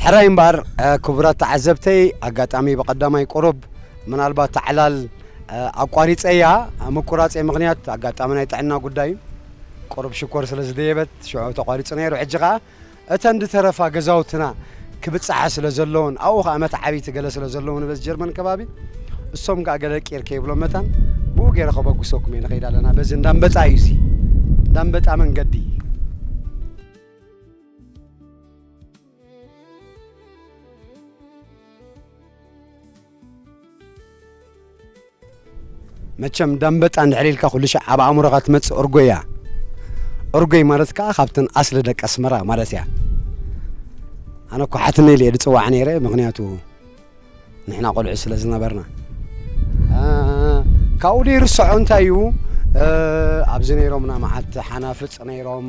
ሕራይ እምበኣር ክቡራት ተዓዘብተይ ኣጋጣሚ ብቐዳማይ ቁሩብ ምናልባት ታዕላል ኣቋሪፀያ ምቁራፀይ ምክንያት ኣጋጣሚ ናይ ጥዕና ጉዳይ ቁሩብ ሽኮር ስለ ዝደየበት ሽዑ ተቋሪፁ ነይሩ ሕጂ ከዓ እተን ድተረፋ ገዛውትና ክብጻሓ ስለ ዘለወን ኣብኡ ከኣ መትዓቢቲ ገለ ስለ ዘለዉ ንበዚ ጀርመን ከባቢ እሶም ከኣ ገለ ቂር ከይብሎም መታን ብኡ ገይረ ከበግሰኩም እየ ንኸይድ ኣለና በዚ እንዳንበጣ እዩ እዚ እንዳንበጣ መንገዲ መቸም ዳምበጣ እንድሕር ኢልካ ኩሉ ሻዕ ኣብ ኣእምሮኻ ትመጽእ እርጎ እያ እርጎይ ማለት ከኣ ካብተን ኣስሊ ደቂ ኣስመራ ማለት እያ ኣነ እኮ ሓትነይ ኢለ ዝጽዋዕ ነይረ ምክንያቱ ንሕና ቆልዑ ስለ ዝነበርና ካብኡ ዘይርስዖ እንታይ እዩ ኣብዚ ነይሮምና መዓት ሓናፍጽ ነይሮም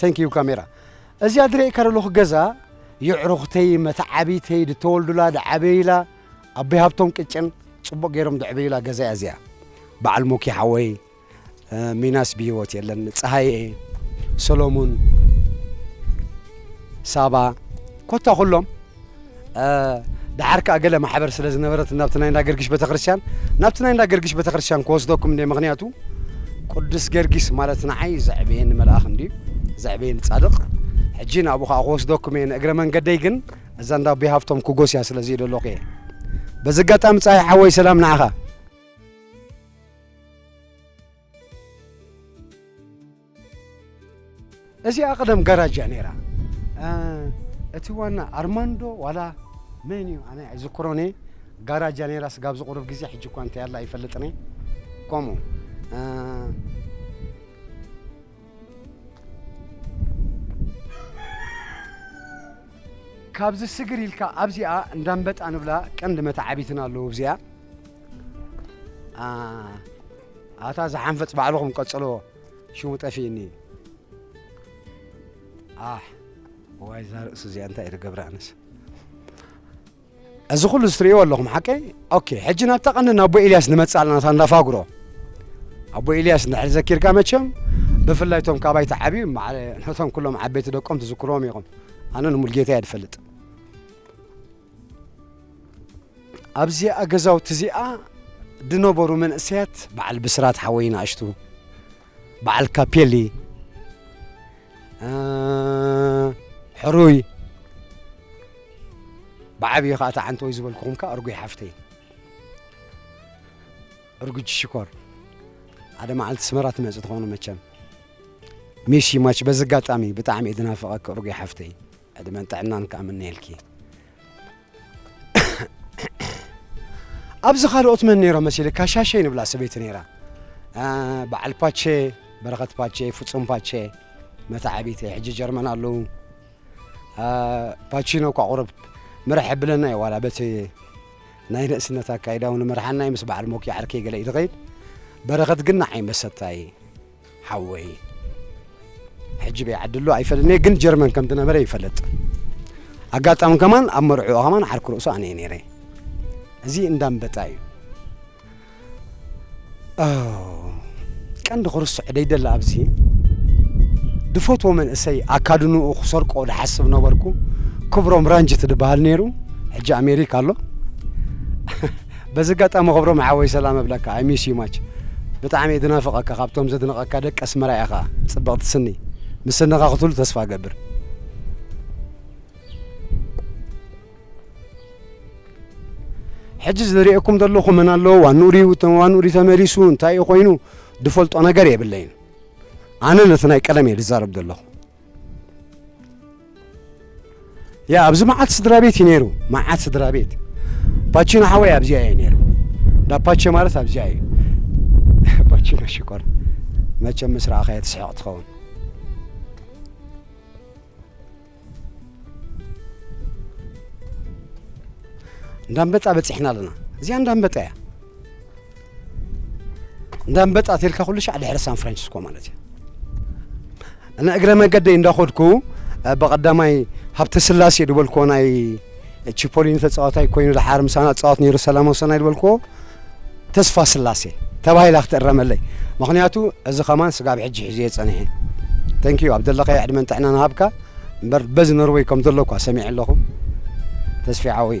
Thank you ካሜራ እዚኣ ድሬኤካ ደለኹ ገዛ የዕሩኽተይ መተዓቢተይ ድተወልዱላ ድዓበዩላ ኣቦይ ሃብቶም ቅጭን ጽቡቕ ገይሮም ደዕበዩላ ገዛ እያ እዚኣ በዓል ሞኪ ሓወይ ሚናስ ብሂወት የለን ጸሃየ ሰሎሙን ሳባ ኮታ ኩሎም ደሓር ከኣ ገለ ማሕበር ስለ ዝነበረት ናብቲ ናይ እንዳ ገርጊሽ ቤተክርስትያን ናብቲ ናይ እንዳ ገርጊሽ ቤተክርስትያን ክወስደኩም እንደ ምክንያቱ ቅዱስ ገርጊስ ማለት ንዓይ ዘዕበየኒ መልኣኽ እንድዩ ዘዕበየኒ ጻድቕ ሕጂ ናብኡ ከኣ ክወስደኩም እየ ንእግረ መንገደይ ግን እዛ እንዳ ኣቦይ ሃብቶም ክጎስያ ስለ ዘይደለኹ እየ በዚ ኣጋጣሚ ጻይ ሓወይ ሰላም ንዓኻ እዚኣ ቀደም ጋራጅ እያ ነይራ እቲ ዋና ኣርማንዶ ዋላ መን እዩ ኣነ ኣይዝክሮን እየ ጋራጅ እያ ነይራ ስጋብ ዝቑርብ ግዜ ሕጂ እኳ እንታይ ኣላ ኣይፈልጥን እየ ከምኡ ካብዚ ስግር ኢልካ ኣብዚኣ እንዳንበጣ ንብላ ቀንዲ መታዓቢትና ኣለዎ እብዚኣ ኣታ ዝሓንፈፅ ባዕልኹም ቀፅልዎ ሽሙ ጠፊእኒ ኣሕ ዋይ እዛ ርእሲ እዚኣ እንታይ ኢለ ገብረ ኣነስ እዚ ኩሉ ዝትርእይዎ ኣለኹም ሓቀይ ኦኬ ሕጂ ናብታ ቀንዲ ኣቦ ኤልያስ ንመፅእ ኣለና እታ እንዳፋጉሮ ኣቦ ኤልያስ ንድሕሪ ዘኪርካ መቸም ብፍላይ እቶም ካባይ ተዓብዩ ነቶም ኩሎም ዓበይቲ ደቆም ትዝክርዎም ኢኹም ኣነ ንሙልጌታ እየ ዝፈልጥ ኣብዚኣ ገዛውቲ እዚኣ ድነበሩ መንእሰያት በዓል ብስራት ሓወይ ንኣሽቱ በዓል ካፔሊ ሕሩይ ብዓብዪ ከዓ ተዓንተ ወይ ዝበልኩኹም ከዓ እርጉይ ሓፍተይ እርጉጅ ሽኮር ሓደ መዓልቲ ስመራ ትመፅእ ትኾኑ መቸም ሚስ ማች በዚ ኣጋጣሚ ብጣዕሚ እየ ድናፍቐኪ እርጉይ ሓፍተይ ዕድመን ጥዕናን ከኣ እምነየልኪ። ኣብዚ ካልኦት መን ነይሮም መሲልካ ሻሸይ ንብላ ሰበይቲ ነይራ በዓል ፓቸ በረኸት ፓቸ ፍጹም ፓቸ መታዓቢተይ ሕጂ ጀርመን ኣለዉ ፓቺኖ እኳ ቁርብ ምራሕ የብለና እዩ ዋላ በቲ ናይ ንእስነት ኣካይዳ እውን መርሓና ምስ በዓል ሞኪ ዓርከይ ገለ እዩ ዝኸይድ በረኸት ግን ንዓይ መሰታ እዩ ሓወይ ሕጂ በይ ዓዲ ኣሎ ኣይፈልጥን ግን ጀርመን ከም ዝነበረ ይፈልጥ ኣጋጣሚ ከማን ኣብ መርዕኡ ከማን ዓርኪ ርእሱ ኣነ እየ ነይረ እዚ እንዳንበጣ እዩ ቀንዲ ክርስዕ ደይደላ ኣብዚ ድፈትዎ መንእሰይ ኣካድንኡ ክሰርቆ ዝሓስብ ነበርኩ ክብሮም ራንጅት ዝበሃል ነይሩ ሕጂ ኣሜሪካ ኣሎ በዚ ኣጋጣሚ ክብሮም ሓወይ ሰላም እብለካ ኣይ ሚስ ዩ ማች ብጣዕሚ እየ ድናፍቀካ ካብቶም ዘድንቀካ ደቂ ኣስመራ ኢካ ጽብቅቲ ስኒ ምስ ስንካ ክትህሉ ተስፋ እገብር። ሕጂ ዝሪኤኩም ዘለኹ መን ኣለዎ ዋንኡ ድዩ ዋንኡ ድዩ ተመሊሱ እንታይ እዩ ኮይኑ ድፈልጦ ነገር የብለይን ኣነ ነቲ ናይ ቀደም እየ ድዛረብ ዘለኹ ያ ኣብዚ መዓት ስድራ ቤት እዩ ነይሩ መዓት ስድራ ቤት ፓቺኖ ሓወይ ኣብዚኣ እዩ ነይሩ እንዳ ፓቸ ማለት ኣብዚኣ እዩ ፓቺኖ ሽኮር መቸም ምስ ረኣኻዮ ትስሕቕ ትኸውን እንዳንበጣ በፂሕና ኣለና እዚኣ እንዳንበጣ እያ እንዳንበጣ ተልካ ኩሉ ሻዕ ድሕሪ ሳን ፍራንሲስኮ ማለት እዩ እና እግረ መገደይ እንዳኸድኩ ብቐዳማይ ሃብተ ስላሴ ዝበልክዎ ናይ ቺፖሊኒ ተፃዋታይ ኮይኑ ድሓር ምሳና ፃወት ነይሩ ሰላማዊ ሰናይ ዝበልክዎ ተስፋ ስላሴ ተባሂላ ክትእረመለይ ምክንያቱ እዚ ከማን ስጋብ ሕጂ ሒዘ የፀኒሐ ተንኪዩ ኣብ ዘለኸ ዕድመን ጥዕና ንሃብካ እምበር በዚ ኖርወይ ከም ዘለኳ ሰሚዐ ኣለኹ ተስፊ ዓወይ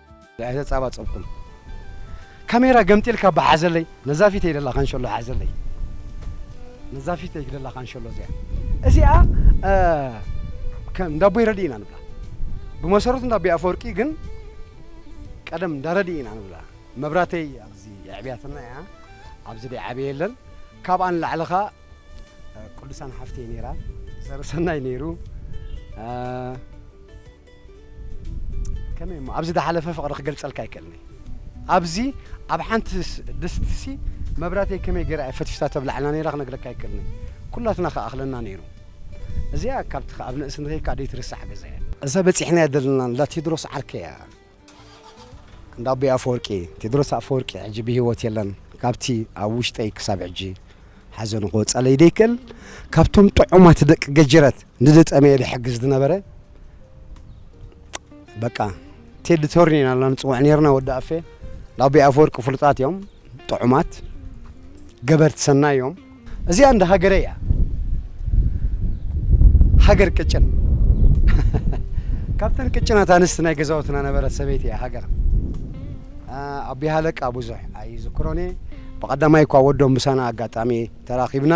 ኣይተ ጻባ ጸብኩን ካሜራ ገምጢልካ እባ ሓዘለይ ነዛ ፊተይ ደላ ካንሸሎ ሓዘለይ ነዛ ፊተይ ደላ ካንሸሎ እዚኣ እዚኣ ከም እንዳቦይ ረድኢ ኢና ንብላ ብመሰረቱ እንዳቦይ ኣፈወርቂ ግን ቀደም እንዳረድኢ ኢና ንብላ መብራተይ ኣብዚ የዕብያትና እያ ኣብዚ ደይ ዓበየ የለን ካብኣ ንላዕሊ ኸ ቅዱሳን ሓፍተይ ነይራ ዘርሰናይ ነይሩ ከመይ እሞ ኣብዚ ዝሓለፈ ፍቕሪ ክገልጸልካ ኣይክእልን እየ ኣብዚ ኣብ ሓንቲ ድስቲሲ መብራተይ ከመይ ገይራ እየ ፈትፊታ ተብላዕና ነይራ ክነግረካ ኣይክእልን እየ ኩላትና ክኣኽለና ነይሩ እዚኣ ካብቲ ኣብ ንእስነተይ ካኣ ደይትርሳዕ ገዛ እያ እዛ በጺሕናያ ዘለና እንዳ ቴድሮስ ዓርከይ እያ እንዳ ኣቦይ ኣፈወርቂ ቴድሮስ ኣፈወርቂ ሕጂ ብሂወት የለን ካብቲ ኣብ ውሽጠይ ክሳብ ሕጂ ሓዘኑ ክወጻለይ ዘይክእል ካብቶም ጥዑማት ደቂ ገጀረት ንዝጠመየ ዝሕግዝ ዝነበረ በቃ ቴዲ ቶርኒ ኢና ላ ንጽውዕ ነርና ወዲ ኣፌ እንዳ ኣቦይ ኣፈወርቂ ፍሉጣት እዮም ጥዑማት ገበርቲ ሰናይ እዮም እዚኣ እንደ ሃገረይ እያ ሃገር ቅጭን ካብተን ቅጭናት ኣንስቲ ናይ ገዛውትና ነበረት ሰበይቲ እያ ሃገር ኣቢ ሃለቃ ብዙሕ ኣይዝክሮን እየ ብቐዳማይ እኳ ወዶም ምሳና ኣጋጣሚ ተራኺብና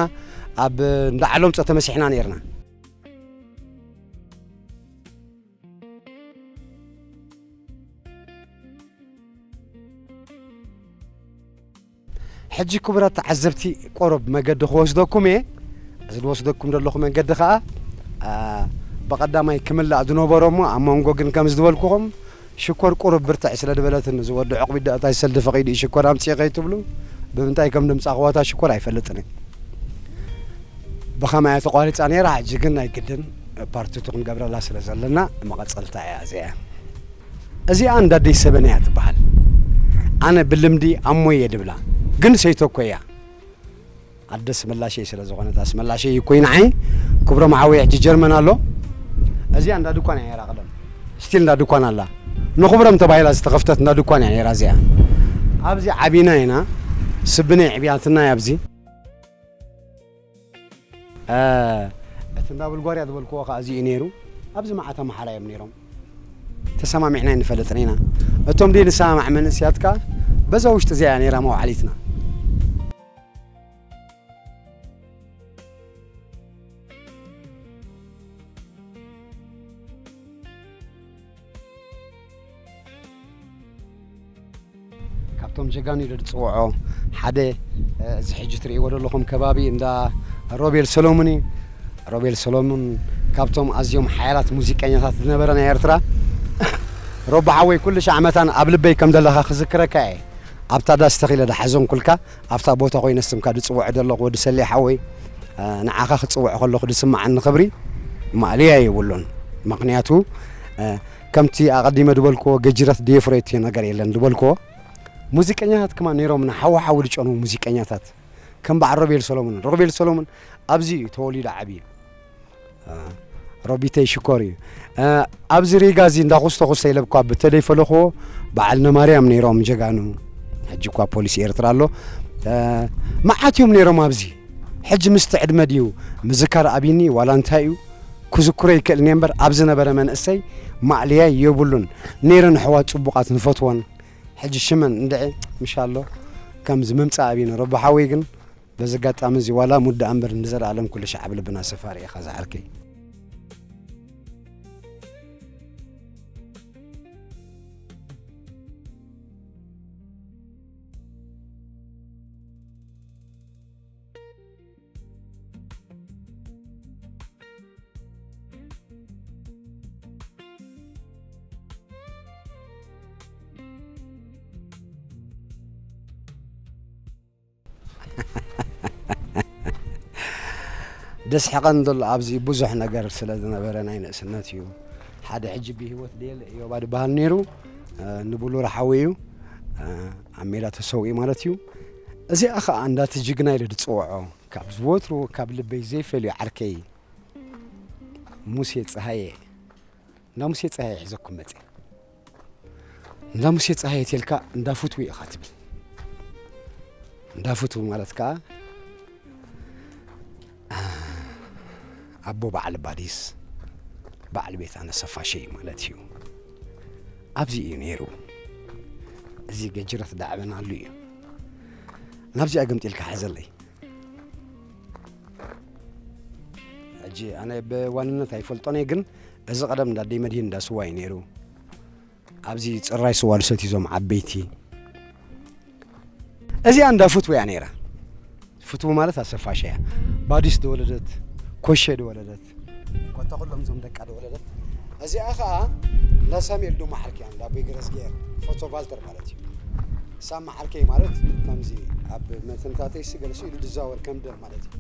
ኣብ እንዳ ዓሎምፀ ተመሲሕና ነርና ሕጂ ክቡራት ተዓዘብቲ ቆሮብ መገዲ ክወስደኩም እየ እዚ ዝወስደኩም ዘለኹ መንገዲ ከኣ ብቀዳማይ ክምላእ ዝነበሮ እሞ ኣብ መንጎ ግን ከም ዝድበልኩኹም ሽኮር ቁሩብ ብርትዕ ስለ ድበለትኒ እዚ ወዲ ዑቕቢት ደኣ እንታይ ሰልዲ ፈቒዱ እዩ ሽኮር ኣምጽእ ከይትብሉ ብምንታይ ከም ድምጻኹዋ እታ ሽኮር ኣይፈልጥን እየ ብኸማይ ተቋሪጻ ነይራ ሕጂ ግን ናይ ግድን ፓርቲቱ ክንገብረላ ስለ ዘለና መቐጸልታ እያ እዚኣ እዚኣ እንዳ ኣደይ ሰበን እያ ትበሃል ኣነ ብልምዲ ኣሞይ እየ ድብላ ግን ሰይቶ እኮ እያ ኣደ ኣስመላሸይ ስለ ዝኾነት ኣስመላሸይ እኮይ ንዓይ ክብሮም ሓወይ ሕጂ ጀርመን ኣሎ እዚኣ እንዳ ድኳን እያ ነይራ ቀደም ስቲል እንዳ ድኳን ኣላ ንኽብሮም ተባሂላ ዝተኸፍተት እንዳ ድኳን እያ ነይራ እዚኣ ኣብዚ ዓቢና ኢና ስብነይ ዕብያትና እያ ኣብዚ እቲ እንዳ ቡልጓርያ ዝበልክዎ ከኣ እዚ እዩ ነይሩ። ኣብዚ መዓት ኣምሓራ እዮም ነይሮም። ተሰማሚዕና ኣይንፈልጥን ኢና። እቶም ዘይንሰማማዕ መንእሰያት ከኣ በዛ ውሽጢ እዚኣ እያ ነይራ መውዓሊትና። ካብቶም ጀጋኑ ኢለ ዝፅውዖ ሓደ እዚ ሕጂ ትርእይዎ ዘለኹም ከባቢ እንዳ ሮቤል ሰሎሙን እዩ ሮቤል ሰሎሙን ካብቶም ኣዝዮም ሓያላት ሙዚቀኛታት ዝነበረ ናይ ኤርትራ ሮቦ ሓወይ ኩሉ ሻዕ መታን ኣብ ልበይ ከም ዘለኻ ክዝክረካ እየ ኣብታ ዳስ ተኺለ ዳሓዘንኩልካ ኣብታ ቦታ ኮይነ ስምካ ድፅውዖ ዘለኹ ወዲ ሰሌ ሓወይ ንዓኻ ክፅውዕ ከለኹ ድስምዓኒ ክብሪ ማእለያ የብሉን ምክንያቱ ከምቲ ኣቐዲመ ዝበልክዎ ገጅረት ድየፍሮ እቲ ነገር የለን ዝበልክዎ ሙዚቀኛታት ከማን ነይሮምና ሓዊ ሓዊ ዝጨንዉ ሙዚቀኛታት ከም በዓል ሮቤል ሰሎሙን ሮቤል ሰሎሙን ኣብዚ እዩ ተወሊዱ ዓብዩ ሮቢተይ ሽኮር እዩ ኣብዚ ሪጋ እዚ እንዳኹስተ ኩስተ ኢለብ እኳ ብተደይ ፈለኽዎ በዓል ነማርያም ነይሮም ጀጋኑ ሕጂ እኳ ፖሊሲ ኤርትራ ኣሎ መዓት እዮም ነይሮም ኣብዚ ሕጂ ምስቲ ዕድመ ድዩ ምዝካር ኣብይኒ ዋላ እንታይ እዩ ክዝክሮ ይክእል እኔ እምበር ኣብ ዝነበረ መንእሰይ ማእለያይ የብሉን ነይረን ኣሕዋት ጽቡቃት ንፈትወን ሕጂ ሽመን እንድዒ ምሻሎ ከምዚ ምምጻእ ኣብነ ረቡ ሓወይ ግን በዚ ኣጋጣሚ እዚ ዋላ ሙት ደኣ እምበር ንዘለኣለም ኩሉ ሻዕ ኣብ ልብና ሰፋሪ ኢኻ ዝሓልከይ ደስሕቐን ዘሎ ኣብዚ ብዙሕ ነገር ስለ ዝነበረ ናይ ንእስነት እዩ ሓደ ሕጂ ብሂወት ደየለ እዮባ ድበሃል ነይሩ ንብሉር ሓዊ እዩ ኣብ ሜዳ ተሰዊኡ ማለት እዩ እዚኣ ኸኣ እንዳቲ ጅግና ኢለ ድጽውዖ ካብ ዝወትሩ ካብ ልበይ ዘይፈልዩ ዓርከይ ሙሴ ጸሃየ እንዳ ሙሴ ጸሃየ ሒዘኩም መጽ እንዳ ሙሴ ጸሃየ ቴልካ እንዳ ፍትዊ ኢኻ ትብል እንዳ ፍትዊ ማለት ከኣ ኣቦ በዓል ባዲስ በዓል ቤት ኣነሰፋሸይ ማለት እዩ ኣብዚ እዩ ነይሩ እዚ ገጅረት ዳዕበናሉ እዩ ናብዚኣ ገምጢልካ ሓዘለይ ሕጂ ኣነ ብዋንነት ኣይፈልጦን እየ ግን እዚ ቀደም እንዳ ደይ መድሂን እንዳ ስዋ እዩ ነይሩ ኣብዚ ጽራይ ስዋ ዝሰትዩ ዞም ዓበይቲ እዚኣ እንዳ ፍትው እያ ነይራ። ፍትው ማለት ኣሰፋሽ እያ። ባዲስ ዝወለደት ኮሸ ዝወለደት ኮታ ኩሎም ዞም ደቃ ዝወለደት እዚኣ ከዓ እንዳ ሳሙኤል ዶ መዓልክ እያ እንዳ ኣቦይ ገረዝግሄር ፎቶ ቫልተር ማለት እዩ። እሳ መዓልከይ ማለት ከምዚ ኣብ መትንታተይ ስገልሱ ኢሉ ዝዛወር ከም ደም ማለት እዩ።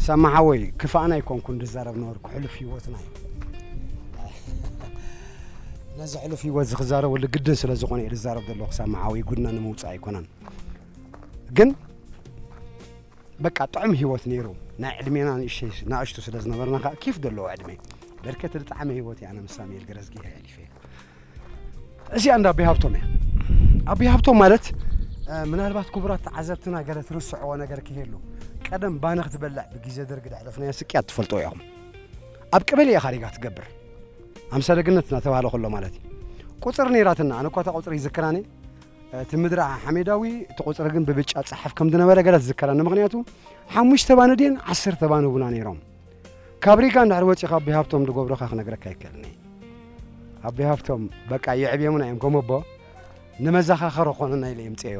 ሰማሓወይ ክፋእና ኣይኮንኩን ዝዛረብ ነበርኩ ሕሉፍ ሂወትና እዩ። ነዚ ሕሉፍ ህይወት ዝክዛረበሉ ግድን ስለ ዝኾነ እዩ ዝዛረብ ዘሎ ክሳብ መዓዊ ጉድና ንምውፃእ ኣይኮነን ግን በቃ ጥዑም ህይወት ነይሩ ናይ ዕድሜና ንእሽተይ ናእሽቱ ስለ ዝነበርና ከዓ ኪፍ ዘለዎ ዕድሜ በርከት ዝጠዓመ ህይወት እዩ ኣነ ምስ ሳሙኤል ገረዝጊ ሕሊፈ እዚኣ እንዳ ኣቢ ሃብቶም እያ ኣቢ ሃብቶም ማለት እ፣ ምናልባት ክቡራት ተዓዘብትና ገለ ትርስዕዎ ነገር ክህሉ ቀደም ባነ ክትበልዕ ብግዜ ደርጊ ዘሕለፍናዮ ስቅያት ትፈልጦ ኢኹም ኣብ ቀበሌ ኢኻ ሪጋ ትገብር ኣምሳለ ገነት እናተባህለ ከሎ ማለት እዩ ቁፅሪ ነይራትና ኣነ እኳ እታ ቁፅሪ ይዝክራኒ እቲ ምድረ ሓሜዳዊ እቲ ቁፅሪ ግን ብብጫ ፀሓፍ ከም ዝነበረ ገለ ዝዝከረኒ ምክንያቱ ሓሙሽተ ባኒ ድን ዓሰርተ ባኒ ቡና ነይሮም ካብ ሪጋ እንድሕር ወፂኻ ኣቦይ ሃብቶም ዝገብሩኻ ክነግረካ ይከልኒ ኣቦይ ሃብቶም በቃ የዕብዮምና እዮም ከም ኣቦ ንመዘኻኸሪ ኮኑና ኢለ የምፅአዮ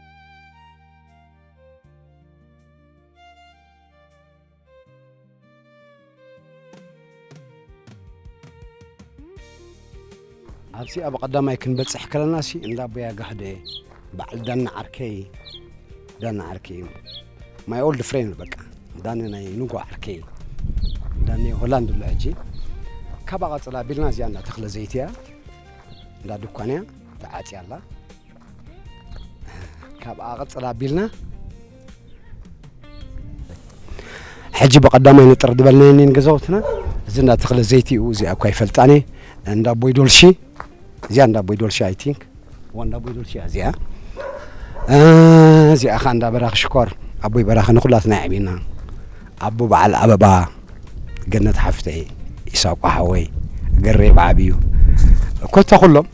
ኣብዚ ኣብ ቀዳማይ ክንበጽሕ ከለና ሲ እንዳ ኣቦያ ጋህደ በዓል ዳና ዓርከይ ዳና ዓርከይ እዩ ማይ ኦልድ ፍሬንድ በቃ ዳነ ናይ ንጎ ዓርከይ ዳነ ሆላንድ ኣሎ ሕጂ ካብኣ ቀጽላ ቢልና እዚኣ እንዳ ተኽለ ዘይቲ እያ እንዳ ድኳን እያ ተዓጽያ ኣላ ካብኣ ቅፅል ኣቢልና ሕጂ ብቐዳማይ ንጥር ዝበልናዮ እኒን ገዛውትና እዚ እንዳ ተኽለ ዘይቲ እዩ እዚኣ እኳ ይፈልጣኒ እንዳ ኣቦይ ዶልሺ እዚኣ እንዳ ኣቦይ ዶልሺ ኣይ ቲንክ እዋ እንዳ ኣቦይ ዶልሺ እያ እዚኣ እ፣ እዚኣ ከዓ እንዳ በራኺ ሽኮር ኣቦይ በራኺ ንኩላትና የዕብየና ኣቦ በዓል ኣበባ ገነት ሓፍተይ ኢሳቆ ሓወይ ገሬ ብዓብዩ ኮታ ኩሎም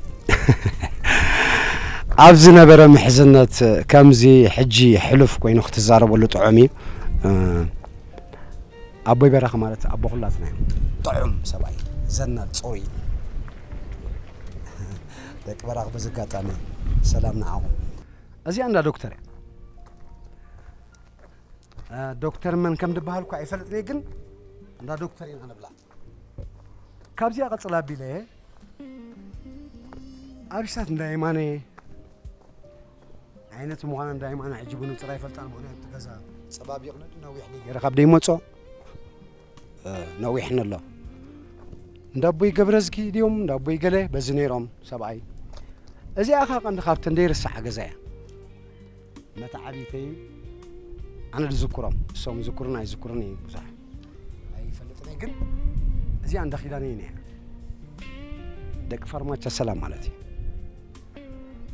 ኣብ ዝነበረ ምሕዝነት ከምዚ ሕጂ ሕሉፍ ኮይኑ ክትዛረበሉ ጥዑም እዩ ኣቦይ በራኺ ማለት ኣቦ ኩላትና እዩ ጥዑም ሰብኣይ ዘናል ፅሩይ ደቂ በራኺ በዚ ኣጋጣሚ ሰላም ንዓኹም እዚኣ እንዳ ዶክተር እያ ዶክተር መን ከም ድበሃል እኳ ኣይፈልጥን እየ ግን እንዳ ዶክተር ኢና ንብላ ካብዚኣ ቀፅል ኣቢለ ኣብሳት እንዳ የማነ ዓይነት ምዃና እንዳ የማነ ሕጂ ብንፅር ኣይፈልጣን ምክንያቱ እቲ ገዛ ፀባቢቕ ነዲ ነዊሕ ገይረ ካብ ደይመፆ ነዊሕ ነሎ እንዳ ኣቦይ ገብረዝጊ ድዮም እንዳ ኣቦይ ገለ በዚ ነይሮም ሰብኣይ እዚኣ ካ ቀንዲ ካብተን ዘይርሳዓ ገዛ እያ መተዓቢተይን ኣነ ዝዝክሮም እሶም ዝክሩን ኣይዝክሩን እዩ ብዙሕ ኣይፈልጥን እዩ ግን እዚኣ እንዳ ኪዳነ እዩ ነይራ ደቂ ፋርማቻ ሰላም ማለት እዩ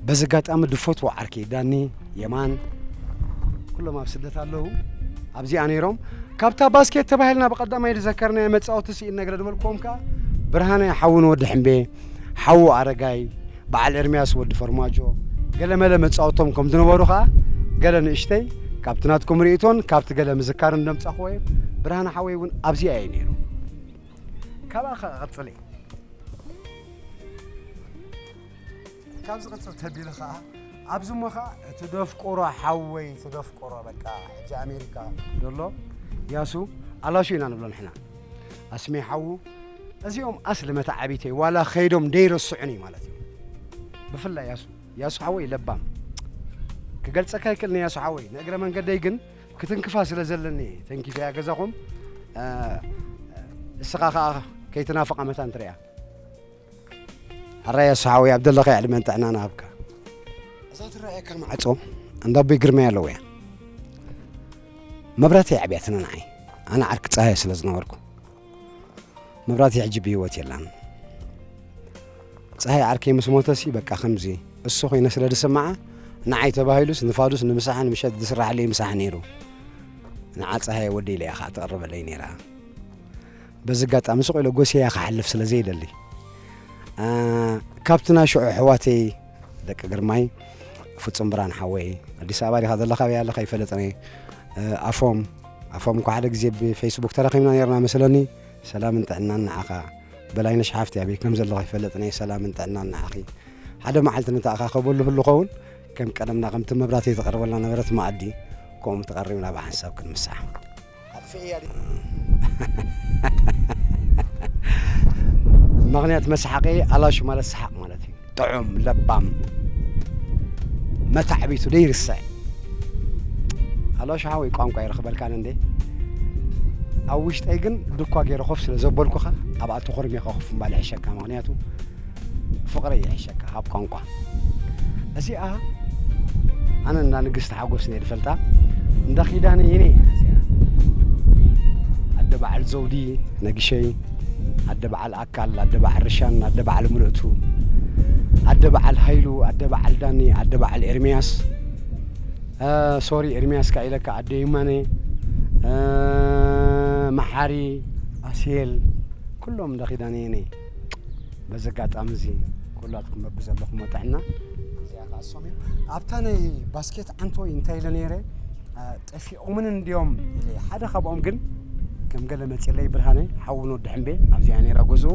በዚ ኣጋጣሚ ድፈትዎ ዓርኪ ዳኒ የማን ኩሎም ኣብ ስደት ኣለዉ ኣብዚኣ ነይሮም ካብታ ባስኬት ተባሂልና ብቀዳማይ ዝዘከርናዮ መፃወቲ ስኢን ነግረ ድበልክዎም ከዓ ብርሃነ ሓውን ወዲ ሕምቤ ሓዉ ኣረጋይ፣ በዓል ኤርምያስ ወዲ ፈርማጆ፣ ገለመለ መጻውቶም ከም ዝነበሩ ከኣ ገለ ንእሽተይ ካብቲ ናትኩም ርእይቶን ካብቲ ገለ ምዝካርን ዘምጻኹዎ እየ። ብርሃነ ሓወይ እውን ኣብዚኣ እየ ነይሩ። ካብኣ ከኣ ቀጽሊ። ካብ ዝቕጽል ተቢሉ ከኣ ኣብዚ እሞ ከኣ እቲ ደፍቁሮ ሓወይ እቲ ደፍቁሮ በቃ ሕጂ ኣሜሪካ ዘሎ ያሱ ኣላሹ ኢና ንብሎ ንሕና ኣስሜ ሓዉ እዚኦም ኣስሊ መታዓቢተይ ዋላ ከይዶም ደይረስዑኒ ማለት እዩ ብፍላይ ያሱ ያሱ ሓወይ ለባም ክገልጸካ ይክእልኒ ያሱ ሓወይ ንእግረ መንገደይ ግን ክትንክፋ ስለ ዘለኒ ተንኪፈያ ገዛኹም እስኻ ከዓ ከይትናፍቓ መታን ትሪያ ሕራይ ያሱ ሓወይ ኣብ ዘለኸ ዕድመን ጥዕና ንሃብካ እዛ ትረኣየካ ማዕፆ እንዳ ኣቦይ ግርማይ ኣለዎ እያ መብራህቲ የዕብያትና ንዓይ ኣነ ዓርኪ ፀሃየ ስለ ዝነበርኩ መብራቲ ሕጂ ብህይወት የላን። ጸሃይ ዓርከይ ምስ ሞተሲ በቃ ከምዚ እሱ ኮይነ ስለ ድስምዓ ንዓይ ተባሂሉስ ንፋዱስ ንምሳሕን ምሸት ድስራሕለይ ምሳሕ ነይሩ። ንዓ ጸሃየ ወደይ ኢለ እያ ከዓ ትቕርበለይ ነይራ። በዚ ኣጋጣሚ ስቕ ኢለ ጎስየያ ክሓልፍ ስለ ዘይደሊ ካብቲ ናይ ሽዑ ኣሕዋተይ ደቂ ግርማይ ፍጹም ብርሃን ሓወይ ኣዲስ ኣበባ ዲኻ ዘለኻ በይ ኣለኻ ይፈለጥኒ ኣፎም ኣፎም እኳ ሓደ ግዜ ብፌስቡክ ተራኺብና ነርና መስለኒ ሰላምን ጥዕናን ንዓኻ በላይነሽ ሓፍቲ ኣበይ ከም ዘለኻ ይፈለጥኒ ሰላምን ጥዕናን ንዓኺ ሓደ መዓልቲ ንተኣኻኸበሉ ህሉ ኸውን ከም ቀደምና ከምቲ መብራህቲ ተቐርበልና ነበረት መኣዲ ከምኡ ተቐሪብና ብሓንሳብ ክንምሳሕ ምክንያት መሳሓቂ ኣላሹ ማለት ሰሓቅ ማለት እዩ ጥዑም ለባም መታዕቢቱ ዘይርስዕ ኣላሹ ሓወይ ቋንቋ ይረክበልካን እንዴ ኣብ ውሽጠይ ግን ድኳ ገይረ ኮፍ ስለ ዘበልኩኻ ኣብኣ ተኾርሚኻ ኮፍ ምባል ይሕሸካ ምክንያቱ ፍቅረይ ይሕሸካ ሃብ ቋንቋ እዚኣ ኣነ እንዳ ንግስቲ ሓጎስ እየ ድፈልጣ እንዳ ኪዳነ ይኔ እዚኣ ኣደ በዓል ዘውዲ ነግሸይ ኣደ በዓል ኣካል ኣደ በዓል ርሻን ኣደ በዓል ምልእቱ ኣደ በዓል ሃይሉ ኣደ በዓል ዳኒ ኣደ በዓል ኤርሚያስ ሶሪ ኤርሚያስ ካ ኢለካ ኣደ ይማነ መሓሪ ኣስሄል ኩሎም እንዳ ኪዳነ ይኔ በዚ ኣጋጣሚ እዚ ኩላትኩም በብዘለኹም ጥዕና እዚኣ ከዓ ሶም እዮም ኣብታ ናይ ባስኬት ዓንቶይ እንታይ ኢለ ነይረ ጠፊኦምን እንዲዮም ኢለ ሓደ ካብኦም ግን ከም ገለ መፅለይ ብርሃነ ሓዊ ወዲ ሕምቤ ኣብዚኣ ነይራ ጉዞ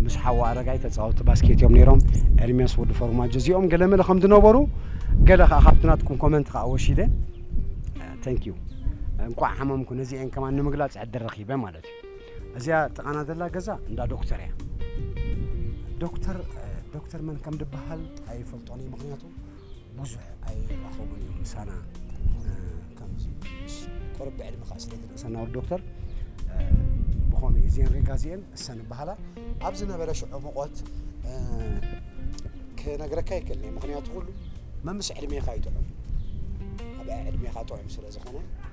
ምስ ሓዋ ኣረጋይ ተፃወቲ ባስኬት እዮም ነይሮም ኤርሚያስ ወዲ ፎርማጆ እዚኦም ገለ መለ ከም ዝነበሩ ገለ ከዓ ካብቲ ናትኩም ኮመንት ከዓ ወሲደ ተንክ ዩ እንኳዕ ሓመምኩ ነዚአን ከማን ንምግላፅ ዕድል ረኺበ ማለት እዩ እዚኣ ጥቓና ዘላ ገዛ እንዳ ዶክተር እያ ዶክተር ዶክተር መን ከም ድበሃል ኣይፈልጦን እዩ ምክንያቱ ብዙሕ ኣይራኸቡን እዮም ምሳና ከምዚ ቅርብ ብዕድመ ከዓ ስለ ዝርእሰና ወዲ ዶክተር ብኸምኡ እዩ እዚአን ሪጋ እዚአን እሰን ይበሃላ ኣብ ዝነበረ ሽዑ ሙቆት ክነግረካ ይክእል ምክንያቱ ኩሉ መምስ ዕድሜኻ ይጥዑም ኣብ ዕድሜኻ ጥዑም ስለ ዝኾነ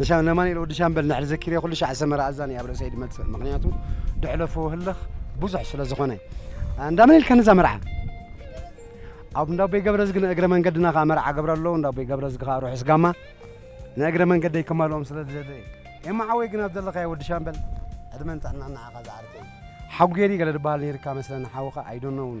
ንሻ ነማንኤል ወዲ ሻምበል ንሕሪ ዘኪሬ ኩሉ ሻዕ ሰመራ ኣዛኒ ኣብ ርእሰይ ድመጽእ ምክንያቱ ድሕለፎ ህልኽ ብዙሕ ስለ ዝኾነ እንዳምን ኢልካ ነዛ መርዓ ኣብ እንዳቦይ ገብረዝጊ ንእግረ መንገድና ከዓ መርዓ ገብረ ኣለዉ እንዳቦይ ገብረዝጊ ከዓ ርሑስ ጋማ ንእግረ መንገደይ ከማልኦም ስለ ዝደለ ኤማ ዓወይ ግን ኣብ ዘለኻዮ ወዲ ሻምበል ዕድመን ጥዕናን ንዓኻ ዝዓርከይ ሓጉየሪ ገለ ድበሃል ነይርካ መስለኒ ሓውኻ ኣይዶነውን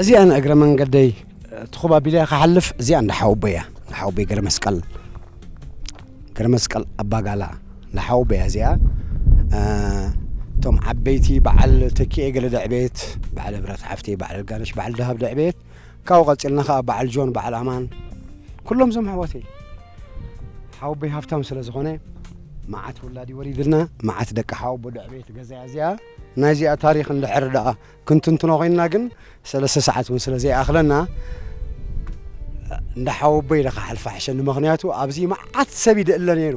እዚኣ ንእግረ መንገደይ ትኹብ ኣቢለ ክሓልፍ እዚኣ እንዳ ሓወቦይ እያ እንዳ ሓወቦይ ገረ መስቀል ገረ መስቀል ኣባጋላ እንዳ ሓወቦይ እያ እዚኣ እቶም ዓበይቲ በዓል ተኪኤ ገለ ደዕቤት በዓል እብረት ሓፍቴ በዓል ጋነሽ በዓል ደሃብ ደዕቤት ካብኡ ቀጺልና ከኣ በዓል ጆን በዓል ኣማን ኩሎም እዞም ኣሕዋተይ ሓወቦይ ሃብታም ስለ ዝኾነ መዓት ውላድ እዩ ወሪድልና መዓት ደቂ ሓወቦ ደዕቤት ገዛ እያ እዚኣ ናይ እዚኣ ታሪክ እንድሕር ደኣ ክንትንትኖ ኮይንና ግን ሰለስተ ሰዓት እውን ስለ ዘይኣኽለና እንዳ ሓወቦይ ኢለ ክሓልፋ ሕሸኒ ምክንያቱ ኣብዚ መዓት ሰብ ይድእለ ነይሩ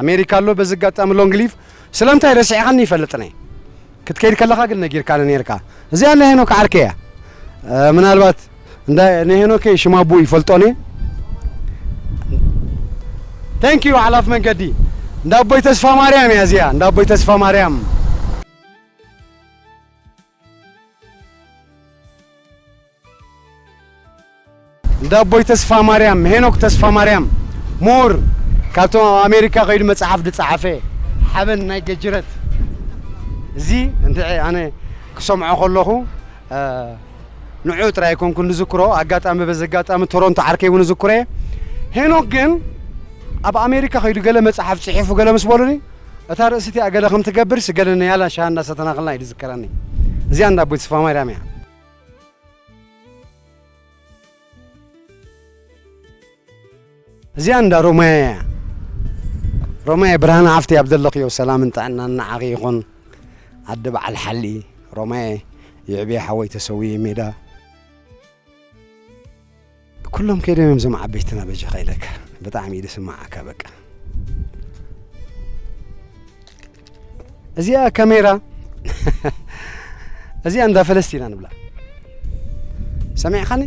ኣሜሪካ ኣሎ በዚ ኣጋጣሚ ሎንግ ሊቭ። ስለምንታይ ረሲዕኻኒ ይፈልጥነ ክትከይድ ከለኻ ግን ነጊርካኒ ኔርካ እዚኣ ናይ ሄኖክ ዓርከይ እያ ምናልባት እንዳ ንሄኖከይ ሽማቡ ይፈልጦኔ Thank you ሓላፍ መንገዲ እንዳ ኣቦይ ተስፋማርያም እያ እዚኣ እንዳ ኣቦይ ተስፋማርያም እንዳ ኣቦይ ተስፋማርያም፣ ሄኖክ ተስፋማርያም፣ ምሁር፣ ካብቶም ኣብ ኣሜሪካ ከይዱ መጽሓፍ ዝጸሓፈ፣ ሓበን ናይ ገጅረት፣ እዚ እንድዒ ኣነ ክሰምዖ ከለኹ ንዕኡ ጥራይ ኣይኮንኩን ዝዝክሮ፣ ኣጋጣሚ በዚ ኣጋጣሚ ቶሮንቶ ዓርከይ እውን እዝክሮ እየ። ሄኖክ ግን ኣብ ኣሜሪካ ከይዱ ገለ መጽሓፍ ጽሒፉ ገለ ምስ በሉኒ እታ ርእሲ እቲኣ ገለ ከም ትገብርስ ገለ ንያላን ሻሂ እንዳሰተናክልና እዩ ዝዝከረኒ እዚኣ እንዳ ኣቦይ ተስፋማርያም እያ። እዚኣ እንዳ ሮማየ እያ ሮማየ ብርሃነ ሓፍቲ ኣብ ዘለኽዮ ሰላምን ጥዕናን ንዓኺ ይኹን ኣደ በዓል ሓሊ ሮማየ ይዕብየ ሓወይ ተሰውየ ሜዳ ኩሎም ከይዶም እዮም ዞም ዓበይትና በጃኻ ኢለካ ብጣዕሚ እዩ ዝስማዓካ በቃ እዚኣ ካሜራ እዚኣ እንዳ ፈለስቲ ኢና ንብላ ሰሚዕኻኒ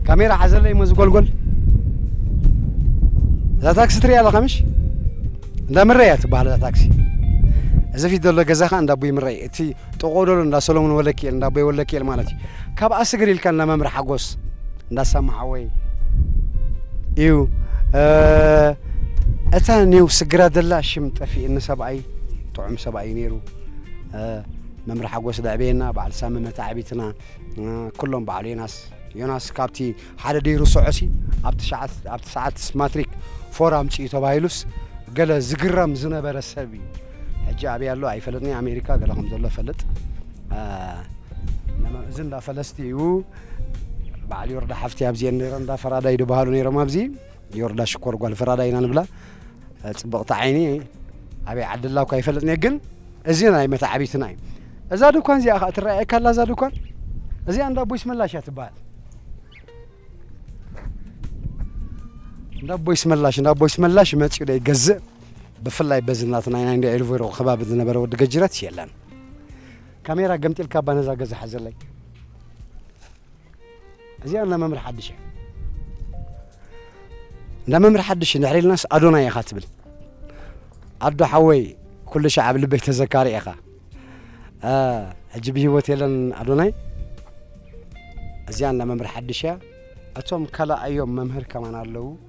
ካሜራ ሓዘለይ እሞ ዝጎልጎል እዛ ታክሲ ትሪኣ ኣለኻ ምሽ እንዳ ምረ እያ ትበሃል እዛ ታክሲ እዚ ፊት ዘሎ ገዛ ከዓ እንዳ ኣቦይ ምረ እዩ እቲ ጥቑኡ ደሎ እንዳ ሰሎሞን ወለኪኤል እንዳ ኣቦይ ወለኪኤል ማለት እዩ ካብኣ ስግር ኢልካልና መምህር ሓጎስ እንዳ ሳማ ሓወይ እዩ እታ ኔው ስግራ ደላ ሽም ጠፊእኒ ሰብኣይ ጥዑም ሰብኣይ እዩ ነይሩ መምህር ሓጎስ ደዕበየና በዓል ሳሚ መታዕቢትና ኩሎም በዓል ዮናስ ዮናስ ካብቲ ሓደ ደይ ርሶዖሲ ኣብ ትሽዓት ማትሪክ ፎር ኣምፅኡ ተባሂሉስ ገለ ዝግረም ዝነበረ ሰብ እዩ ሕጂ ኣብይ ኣሎ ኣይፈለጥኒ ኣሜሪካ ገለ ከም ዘሎ ፈልጥ እዚ እንዳ ፈለስቲ እዩ በዓል ዮርዳ ሓፍቲ ኣብዚኤን ነረ እንዳ ፈራዳይ ድበሃሉ ነይሮም ኣብዚ ዮርዳ ሽኮር ጓል ፈራዳይ ኢና ንብላ ፅብቕቲ ዓይኒ ኣበይ ዓዲ ኣላ እኳ ይፈለጥኒ ግን እዚ ናይ መታዓቢትና እዩ እዛ ድኳን እዚኣ ከዓ ትረኣየካ ኣላ እዛ ድኳን እዚኣ እንዳ ቦይስ መላሽ እያ ትበሃል እንዳ ቦይስ መላሽ እንዳ ቦይስ መላሽ መፅኡ ዶ ይገዝእ ብፍላይ በዚ ናትና ናይ እንዳ ኤልቮሮ ከባቢ ዝነበረ ወዲ ገጅረትስ የለን ካሜራ ገምጢልካ እባ ነዛ ገዛ ሓዘለይ እዚኣ እንዳ መምህር ሓድሽ እያ እንዳ መምህር ሓድሽ ድሕሪ ኢልናስ ኣዶናይ ኢኻ ትብል ኣዶ ሓወይ ኩሉ ሻዕ ኣብ ልበይ ተዘካሪ ኢኻ ሕጂ ብሂወት የለን ኣዶናይ እዚኣ እንዳ መምህር ሓድሽ እያ እቶም ካልኣዮም መምህር ከማን ኣለዉ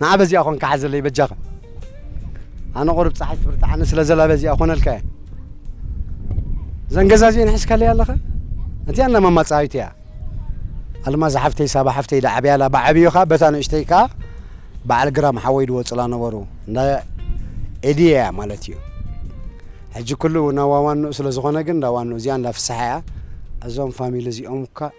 ንዓ በዚኣ ኮንካ ሓዘለይ በጃኻ ኣነ ቁርብ ፀሓይ ትብርትዓኒ ስለ ዘላ በዚኣ ኮነልካ እየ እዘን ገዛ እዚአን ሕዝካለይ ኣለኻ እቲኣ እንዳ ማማ ፀሃይት እያ ኣልማዝ ሓፍተይ ሳባ ሓፍተይ ዳዓብያላ ብዓብዩ ከዓ በታ ንእሽተይ ከዓ በዓል ግራም ሓወይ ድወፅላ ነበሩ እንዳ ኤድየ እያ ማለት እዩ ሕጂ ኩሉ ናብ ዋዋንኡ ስለ ዝኾነ ግን እንዳ ዋንኡ እዚኣ እንዳ ፍስሓ እያ እዞም ፋሚሊ እዚኦም እኳ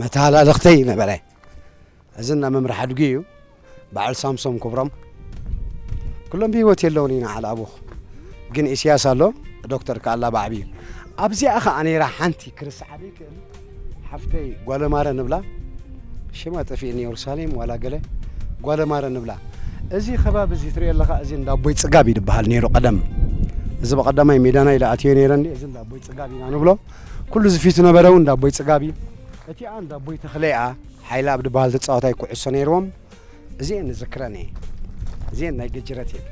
መተሃላለኽተይ ነበረ እዚ እንዳ መምርሒ ኣድጉ እዩ በዓል ሳምሶም ክብሮም ኩሎም ብሂወት የለውን ኢና ዓል ኣቡኽ ግን ኢስያስ ኣሎ ዶክተር ከኣላ ባዕቢ እዩ ኣብዚኣ ከዓ ነይራ ሓንቲ ክርስዓ ዘይክእል ሓፍተይ ጓለማረ ንብላ ሽማ ጠፊእኒ የሩሳሌም ዋላ ገለ ጓለማረ ንብላ እዚ ከባቢ እዚ ትሪኦ ኣለኻ እዚ እንዳ ኣቦይ ፅጋብ ይድበሃል ነይሩ ቀደም እዚ በቐዳማይ ሜዳና ኢለ ኣትዮ ነይረ እዚ እንዳ ኣቦይ ፅጋብ ኢና ንብሎ ኩሉ እዚ ፊቱ ነበረ ውን እንዳ ኣቦይ ጽጋብ እዩ። እቲኣ እንዳ ኣቦይ ተኽለይ'ኣ ሓይለኣብ ድበሃል ተጻዋታይ ኩዕሶ ነይርዎም እዚኤን እዝክረን እየ እዚኤን ናይ ገጅረት እየን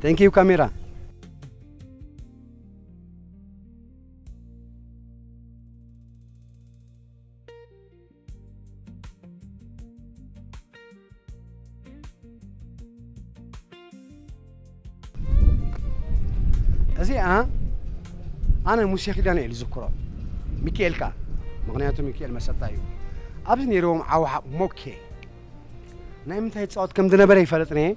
ቴንኪዩ ካሜራ። እዚኣ ኣነ ሙሴ ኪዳነ እዩ ዝዝክሮ ሚካኤል ከዓ ምክንያቱ ሚካኤል መሰጣ እዩ ኣብዚ ነይሮም ዓዋሓቕ ሞኬ ናይ ምንታይ ይፃወት ከም ዝነበረ ይፈለጥ ነየ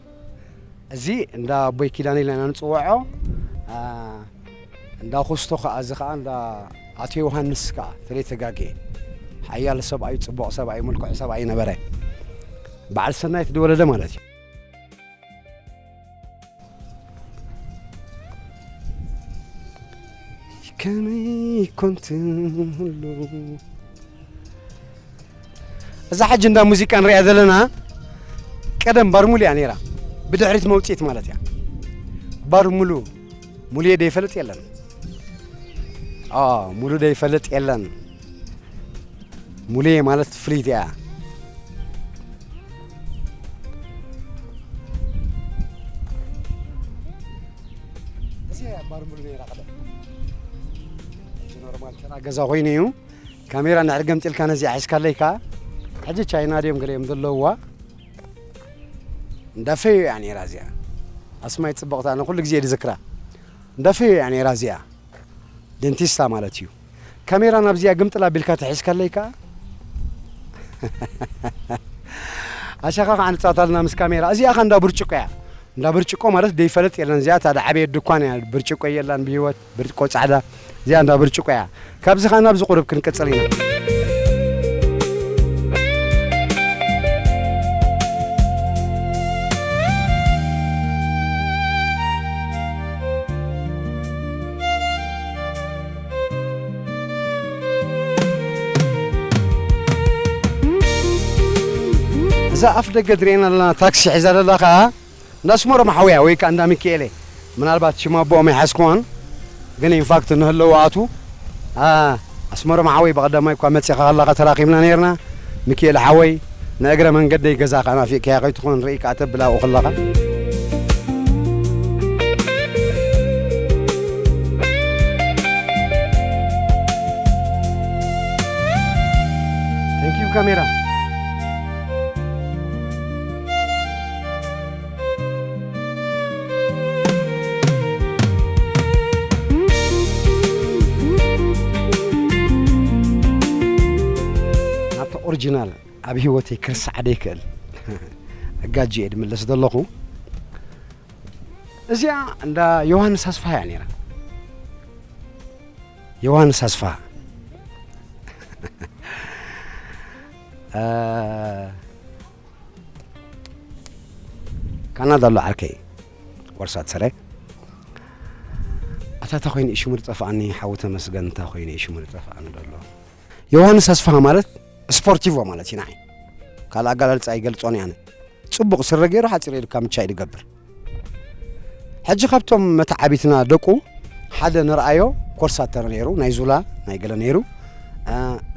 እዚ እንዳ ኣቦይ ኪዳነ ኢልና ኢና ንጽውዖ እንዳ ኩስቶ ከኣ እዚ ከኣ እንዳ ኣቶ ዮሃንስ ከኣ ተለይ ተጋጌ ሓያል ሰብኣይ ጽቡቕ ሰብኣይ ምልኩዕ ሰብኣይ ነበረ በዓል ሰናይ ተደወለደ ማለት እዩ ከመይ ኮንትን ሁሉ እዛ ሕጂ እንዳ ሙዚቃ ንሪኣ ዘለና ቀደም ባርሙሉ እያ ነይራ ብድሕሪት መውፅኢት ማለት እያ ባርሙሉ ሙሉየ ደይፈልጥ የለን አ ሙሉ ደይፈልጥ የለን ሙሉየ ማለት ፍልይቲ እያ እዚ እያ ባርሙሉ ነይራ ቀደም እዚ ኖርማል ተራ ገዛ ኮይኑ እዩ ካሜራ እንድሕር ገምጢልካ ነዚኣ ሒዝካለይ ከኣ ሕጂ ቻይና ድዮም ገሊኦም ዘለዉዋ እንዳ ፈዮ እያ ነይራ እዚኣ ኣስማይ ጽብቕቲ ኣነ ኩሉ ግዜ እየ ዝዝክራ እንዳ ፈዮ እያ ነይራ እዚኣ ደንቲስታ ማለት እዩ ካሜራ ናብዚኣ ግምጥል ኣቢልካ ተሒዝካለይ ከኣ ኣሻኻ ከዓ ንፃታልና ምስ ካሜራ እዚኣ ከ እንዳ ብርጭቆ እያ እንዳ ብርጭቆ ማለት ደይፈለጥ የለን እዚኣ ታደ ዓበየት ድኳን እያ ብርጭቆ የላን ብሂወት ብርጭቆ ጻዕዳ እዚኣ እንዳ ብርጭቆ እያ ካብዚ ከኣ ናብዚ ቁሩብ ክንቅጽል ኢና እዛ ኣፍ ደገ ትርእየና ኣለና ታክሲ ሒዛ ዘላ ከኣ እንዳ ኣስመሮም ሓውያ ወይ ከኣ እንዳ ሚኪኤሌ ምናልባት ሽም ኣቦኦም ኣይሓዝክዋን ግን ኢንፋክት እንሀለዉ ኣቱ ኣኣ ኣስመሮም ሓወይ ብቀዳማይ እኳ መጺኻ ከለኻ ተራኺብና ኔርና ሚኪኤለ ሓወይ ንእግረ መንገደይ ገዛኻ ናፊቅካያ ከይትኾን ርእይ ከኣ ተብል ኣብኡ ከለኻ። Thank you ካሜራ። ናብታ ኦሪጂናል ኣብ ህይወተይ ክርስዓ ደይክእል ኣጋጂ እየ ድምለስ ዘለኹ እዚኣ እንዳ ዮሃንስ ኣስፋ እያ ነይራ ዮሃንስ ኣስፋ አ፣ ካናዳ ኣሎ ዓርከይ ወርሳት ሰረ ኣታ እታ ኮይኑ ሽሙ ዝጠፍኣኒ ሓዊ ተመስገን እታ ኮይኑ እዩ ሽሙ ዝጠፍኣኒ ዘሎ ዮሃንስ ኣስፋሃ ማለት ስፖርቲቮ ማለት እዩ ንዓይ ካልእ ኣገላልፃ ይገልፆን እየ ኣነ ፅቡቕ ስረ ገይሩ ሓፂር ኢልካ ምቻ ኢሉ ይገብር ሕጂ ካብቶም መተዓቢትና ደቁ ሓደ ንርኣዮ ኮርሳተር ነይሩ ናይ ዙላ ናይ ገለ ነይሩ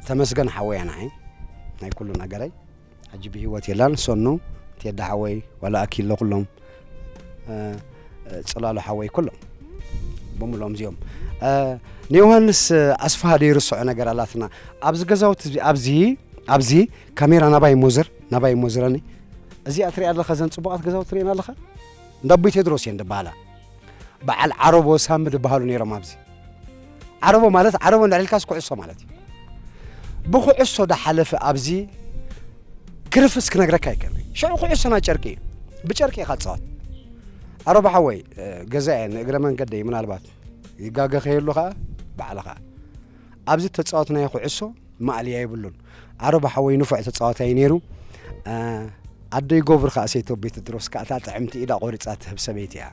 ተመስገን ሓወያ ንዓይ ናይ ኩሉ ነገረይ ሕጂ ብሂወት የላን ሰኑ ቴዲ ሓወይ ዋላ ኣኪለ ኩሎም ጽላሉ ሓወይ ኩሎም ብምሎም እዚኦም ንዮሃንስ ኣስፋሃ ደይርስዖ ነገር ኣላትና ኣብዚ ገዛውቲ ኣብዚ ኣብዚ ካሜራ ናባይ ሞዝር ናባይ ሞዝረኒ እዚኣ ትሪኣ ኣለኻ ዘን ፅቡቓት ገዛውቲ ትሪኤን ኣለኻ እንዳ ኣቦይ ቴድሮስ እየን ደበሃላ በዓል ዓረቦ ሳሚ ዝበሃሉ ነይሮም ኣብዚ ዓረቦ ማለት ዓረቦ እንዳዕልካስ ኩዕሶ ማለት እዩ ብኩዕሶ ዳሓለፈ ኣብዚ ክርፍስ ክነግረካ ይከል ሽዑ ኩዕሶና ጨርቂ እዩ ብጨርቂ ኢኻ ትፃወት ዓረቦ ሓወይ ገዛ እየ ንእግረ መንገደይ ምናልባት ይጋገ ከየሉ ከዓ ባዕልኻ ኣብዚ ተፃወትናዮ ኩዕሶ ማእልያ የብሉን ዓረባ ሓወይ ንፉዕ ተጻዋታይ ነይሩ። ኣደይ ጎብር ከኣ ሴቶ ቤትድሮስ ከኣ እታ ጥዕምቲ ኢዳ ቆሪጻ ትህብ ሰበይቲ እያ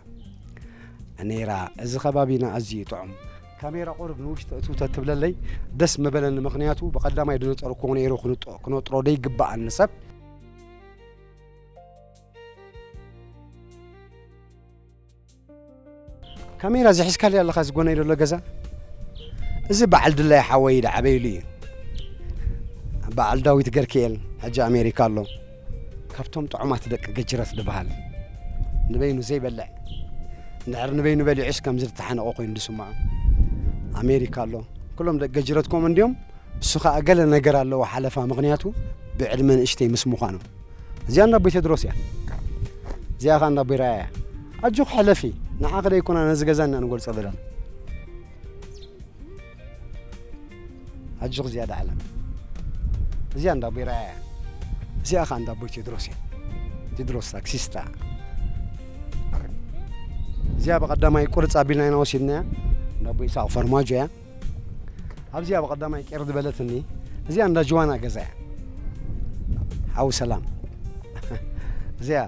ነይራ። እዚ ከባቢና ኣዝዩ እዩ ጥዑም። ካሜራ ቁሩብ ንውሽጢ እትው ተትብለለይ ደስ ምበለኒ ምኽንያቱ ብቀዳማይ ድነጸርኩዎ ነይሩ ክነጥሮ ደይግባእ ንሰብ። ካሜራ እዚ ሒዝካሉ ኣለኻ እዚ ጎነይ ዘሎ ገዛ እዚ በዓል ድላይ ሓወይ ዝዓበይሉ እዩ በዓል ዳዊት ገርክኤል ሕጂ ኣሜሪካ ኣሎ ካብቶም ጥዑማት ደቂ ገጅረት ዝበሃል ንበይኑ ዘይበልዕ እንድሕር ንበይኑ በሊዑስ ከምዚ ዝተሓነቆ ኮይኑ ዝስምዖ ኣሜሪካ ኣሎ ኩሎም ደቂ ገጅረት ከምኡ እንድዮም እሱ ከዓ ገለ ነገር ኣለዎ ሓለፋ ምክንያቱ ብዕድመ ንእሽተይ ምስ ምዃኖም እዚኣ እንዳ ኣቦይ ቴድሮስ እያ እዚኣ ከዓ እንዳ ኣቦይ ራያ እያ ኣጆኺ ሕለፊ ንዓኺ ደይኮና ነዚ ገዛ እና ንገልጾ ዘለና ኣጆኺ እዚኣ ዳዕላ እዚኣ እንዳ ኣቦይ ራያ እያ እዚኣ ከዓ እንዳ ኣቦይ ቴድሮስ እያ ቴድሮስ ታክሲስታ እዚኣ ብቀዳማይ ቁርፅ ኣቢልና ኢና ወሲድናያ እንዳ ኣቦይ ይስሐቅ ፈርማጆ እያ ኣብዚ ኣብ ቐዳማይ ቄር ዝበለትኒ እዚኣ እንዳ ጅዋና ገዛ እያ ሓዊ ሰላም እዚኣ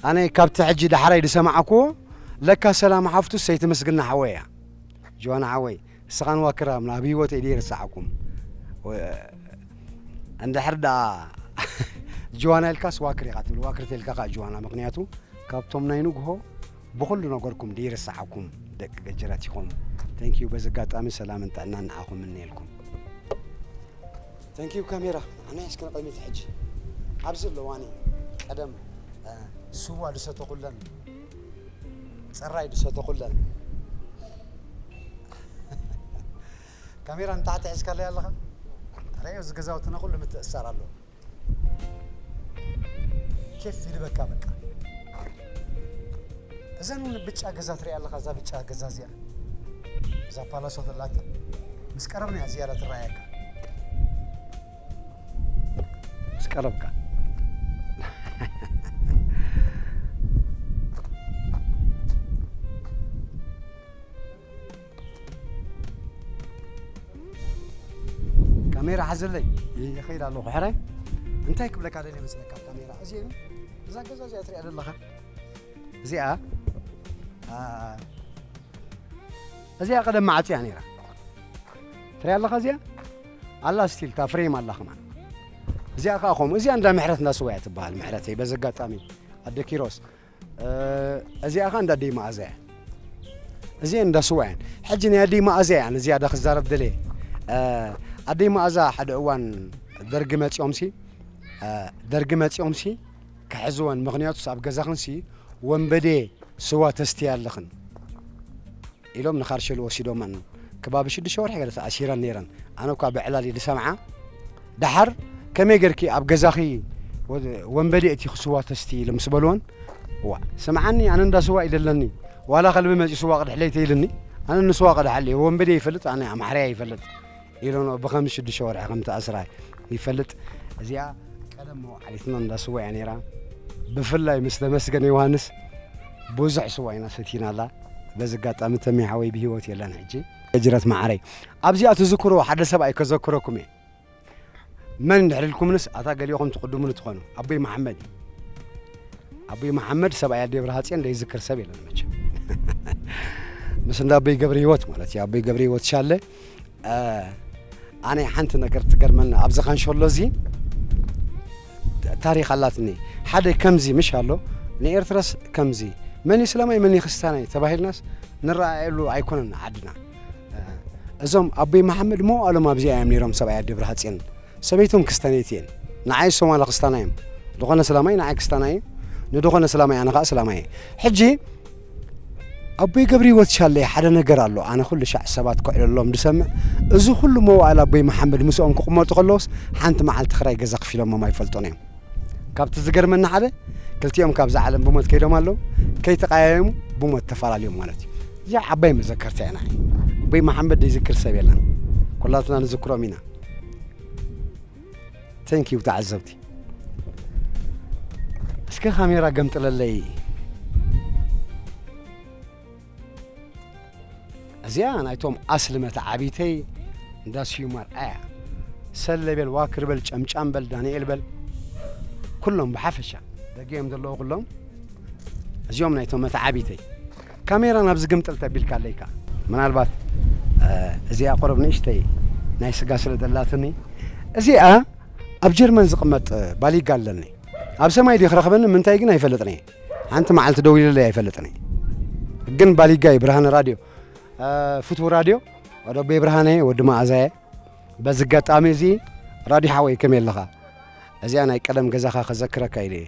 ኣነ ካብቲ ሕጂ ዳሕራይ ዝሰማዕክዎ ለካ ሰላም ሓፍቱ ሰይቲ ምስግና ሓወይ እያ ጅዋና ሓወይ እስኻን ዋክራም ናብ ህይወት ኢደ ይርስዓኩም እንድሕር ደኣ ጅዋና ኢልካስ ዋክር ኢኻ ትብል ዋክር ተልካ ከዓ ጅዋና ምክንያቱ ካብቶም ናይ ንግሆ ብኹሉ ነገርኩም ደይርስዓኩም ደቂ ገጀራት ኢኹም ተንኪዩ በዚ ኣጋጣሚ ሰላምን ጥዕናን ንዓኹም እምነየልኩም ተንኪዩ ካሜራ ኣናይ እስኪ ንቕድሚት ሕጂ ኣብዚ ኣለዋኒ ቀደም ስዋ ድሰተኹለን ፅራይ ድሰተኹለን ካሜራ ንታሕቲ ሒዝካለይ ኣለኻ ረኣዮ እዚ ገዛውትና ኩሉ ምትእስሳር ኣለዎ ኬፍ ይልበካ በቃ እዘን እውን ብጫ ገዛ ትሪኣ ኣለኻ እዛ ብጫ ገዛ እዚኣ እዛ ፓላሶ ተላታ ምስ ቀረብና እያ ዝያዳ ትረኣየካ ምስ ቀረብካ ካሜራ ሓዘለይ ይኸይድ ኣለኹ ሕራይ እንታይ ክብለካ ደለ መስለካ ካሜራ እዚ እዛ ገዛ እዚኣ ትሪኣ ዘለኻ እዚኣ እዚኣ ቀደም መዓፅያ ነይራ ትሪኣ ኣለኻ እዚኣ ኣላ ስቲል እታ ፍሬም ኣላ ከማ እዚኣ ከዓ ከምኡ እዚኣ እንዳ ምሕረት እንዳ ስዋያ ትበሃል ምሕረተይ በዚ ኣጋጣሚ ኣደ ኪሮስ እዚኣ ከ እንዳ ኣደይ መኣዛ እያ እዚኤን እንዳ ስዋ እየን ሕጂ ናይ ኣደይ መኣዛ እያ ኣነ ዝያዳ ክዛረብ ደልየ ኣደይ መኣዛ ሓደ እዋን ደርጊ መፂኦም ሲ ደርጊ መፂኦም ሲ ክሕዝወን ምክንያቱስ ኣብ ገዛኽን ሲ ወንበዴ ስዋ ተስትያ ኣለኽን ኢሎም ንካርሸሊ ወሲዶመን ከባቢ ሽዱሽተ ወርሒ ገለ ተኣሲረን ነይረን ኣነ እኳ ብዕላል እየ ዝሰምዓ ደሓር ከመይ ጌርኪ ኣብ ገዛኺ ወንበዴ እቲ ክስዋ ተስቲ ኢሎም ምስ በልወን ዋ ስምዓኒ ኣነ እንዳ ስዋ ኢለ ኣለኒ ዋላ ከልቢ መፂኡ ስዋ ቅድሕለይ ተይልኒ ኣነ ንስዋ ቅድሓለይ ወንበዴ ይፈልጥ ኣነ ኣምሓርያ ይፈልጥ ኢሎኖ ብኸምዚ ሽዱሽተ ወርሒ ከም እተኣስራ ይፈልጥ። እዚኣ ቀደም መውዓሊትና እንዳ ስዋ እያ ነይራ። ብፍላይ ምስ ተመስገን ዮሃንስ ብዙሕ ስዋ ኢና ሰቲናላ። በዚ ኣጋጣሚ ተሜ ሓወይ ብህይወት የለን ሕጂ። ጅረት መዓረይ ኣብዚኣ ትዝክርዎ ሓደ ሰብኣይ ከዘክረኩም እየ መን እንድሕር ኢልኩምንስ ኣታ ገሊኹም ትቕድሙኒ ትኾኑ ኣቦይ መሓመድ እዩ ኣቦይ መሓመድ ሰብኣይ ኣዴ ብርሃፅዮን ዘይዝክር ሰብ የለን መቸም ምስ እንዳ ኣቦይ ገብረ ህይወት ማለት እዩ ኣቦይ ገብረ ህይወት ሻለ ኣነ ሓንቲ ነገር ትገርመኒ ኣብዚ ካንሸሎ እዚ ታሪክ ኣላትኒ ሓደ ከምዚ ምሽ ኣሎ ንኤርትራስ ከምዚ መን ስለማይ መን ክርስቲያናይ ተባሂልናስ ንረኣየሉ ኣይኮነን ዓድና እዞም ኣቦይ መሓመድ መዋእሎም ኣብዚኣ እዮም ነይሮም ሰብኣያ ደብረ ሃፅን ሰበይቶም ክስታኔት እየን ንዓይ ሶማላ ክስታና እዮም ዝኾነ ስላማይ ንዓይ ክስታና እዩ ንድኾነ ስላማይ ኣነ ከዓ ስላማይ ሕጂ ኣቦይ ገብሪሂወት ሻለይ ሓደ ነገር ኣሎ ኣነ ኩሉ ሻዕ ሰባት ክዕለሎም ድሰምዕ እዚ ኩሉ መዋእል ኣቦይ መሓመድ ምስኦም ክቕመጡ ከለውስ ሓንቲ መዓልቲ ክራይ ገዛ ክፊሎሞም ኣይፈልጡን እዮም ካብቲ ዝገርመኒ ሓደ ክልቲኦም ካብዛ ዓለም ብሞት ከይዶም ኣለዉ ከይተቀያየሙ ብሞት ተፈላለዮም ማለት እዩ እዚኣ ዓባይ መዘከርታ ኢና ኣቦይ መሓመድ ዘይዝክር ሰብ የለን ኩላትና ንዝክሮም ኢና Thank you ተዓዘብቲ እስከ ካሜራ ገምጥለለይ እዚኣ ናይቶም ኣስሊ መተዓቢተይ እንዳ ስዩም ኣርኣያ ሰለ በል ዋክር በል ጨምጫም በል ዳንኤል በል ኩሎም ብሓፈሻ ደገዮም ዘለዉ ኩሎም እዚኦም ናይቶም መተዓቢተይ ካሜራ ናብ ዝግምጥል ተቢልካለይ ከኣ ምናልባት እዚኣ ቁሩብ ንእሽተይ ናይ ስጋ ስለ ዘላትኒ እዚኣ ኣብ ጀርመን ዝቕመጥ ባሊጋ ኣለኒ ኣብ ሰማይ ድዩ ክረኽበኒ ምንታይ ግን ኣይፈልጥን እየ ሓንቲ መዓልቲ ደዊለለይ ኣይፈልጥን እየ ግን ባሊጋ እዩ ብርሃነ ራድዮ ፍትው ራድዮ ወደቤ ብርሃነ ወዲ መኣዛየ በዚ ኣጋጣሚ እዚ ራድዮ ሓወይ ከመይ ኣለኻ እዚኣ ናይ ቀደም ገዛኻ ከዘክረካ ኢለ እየ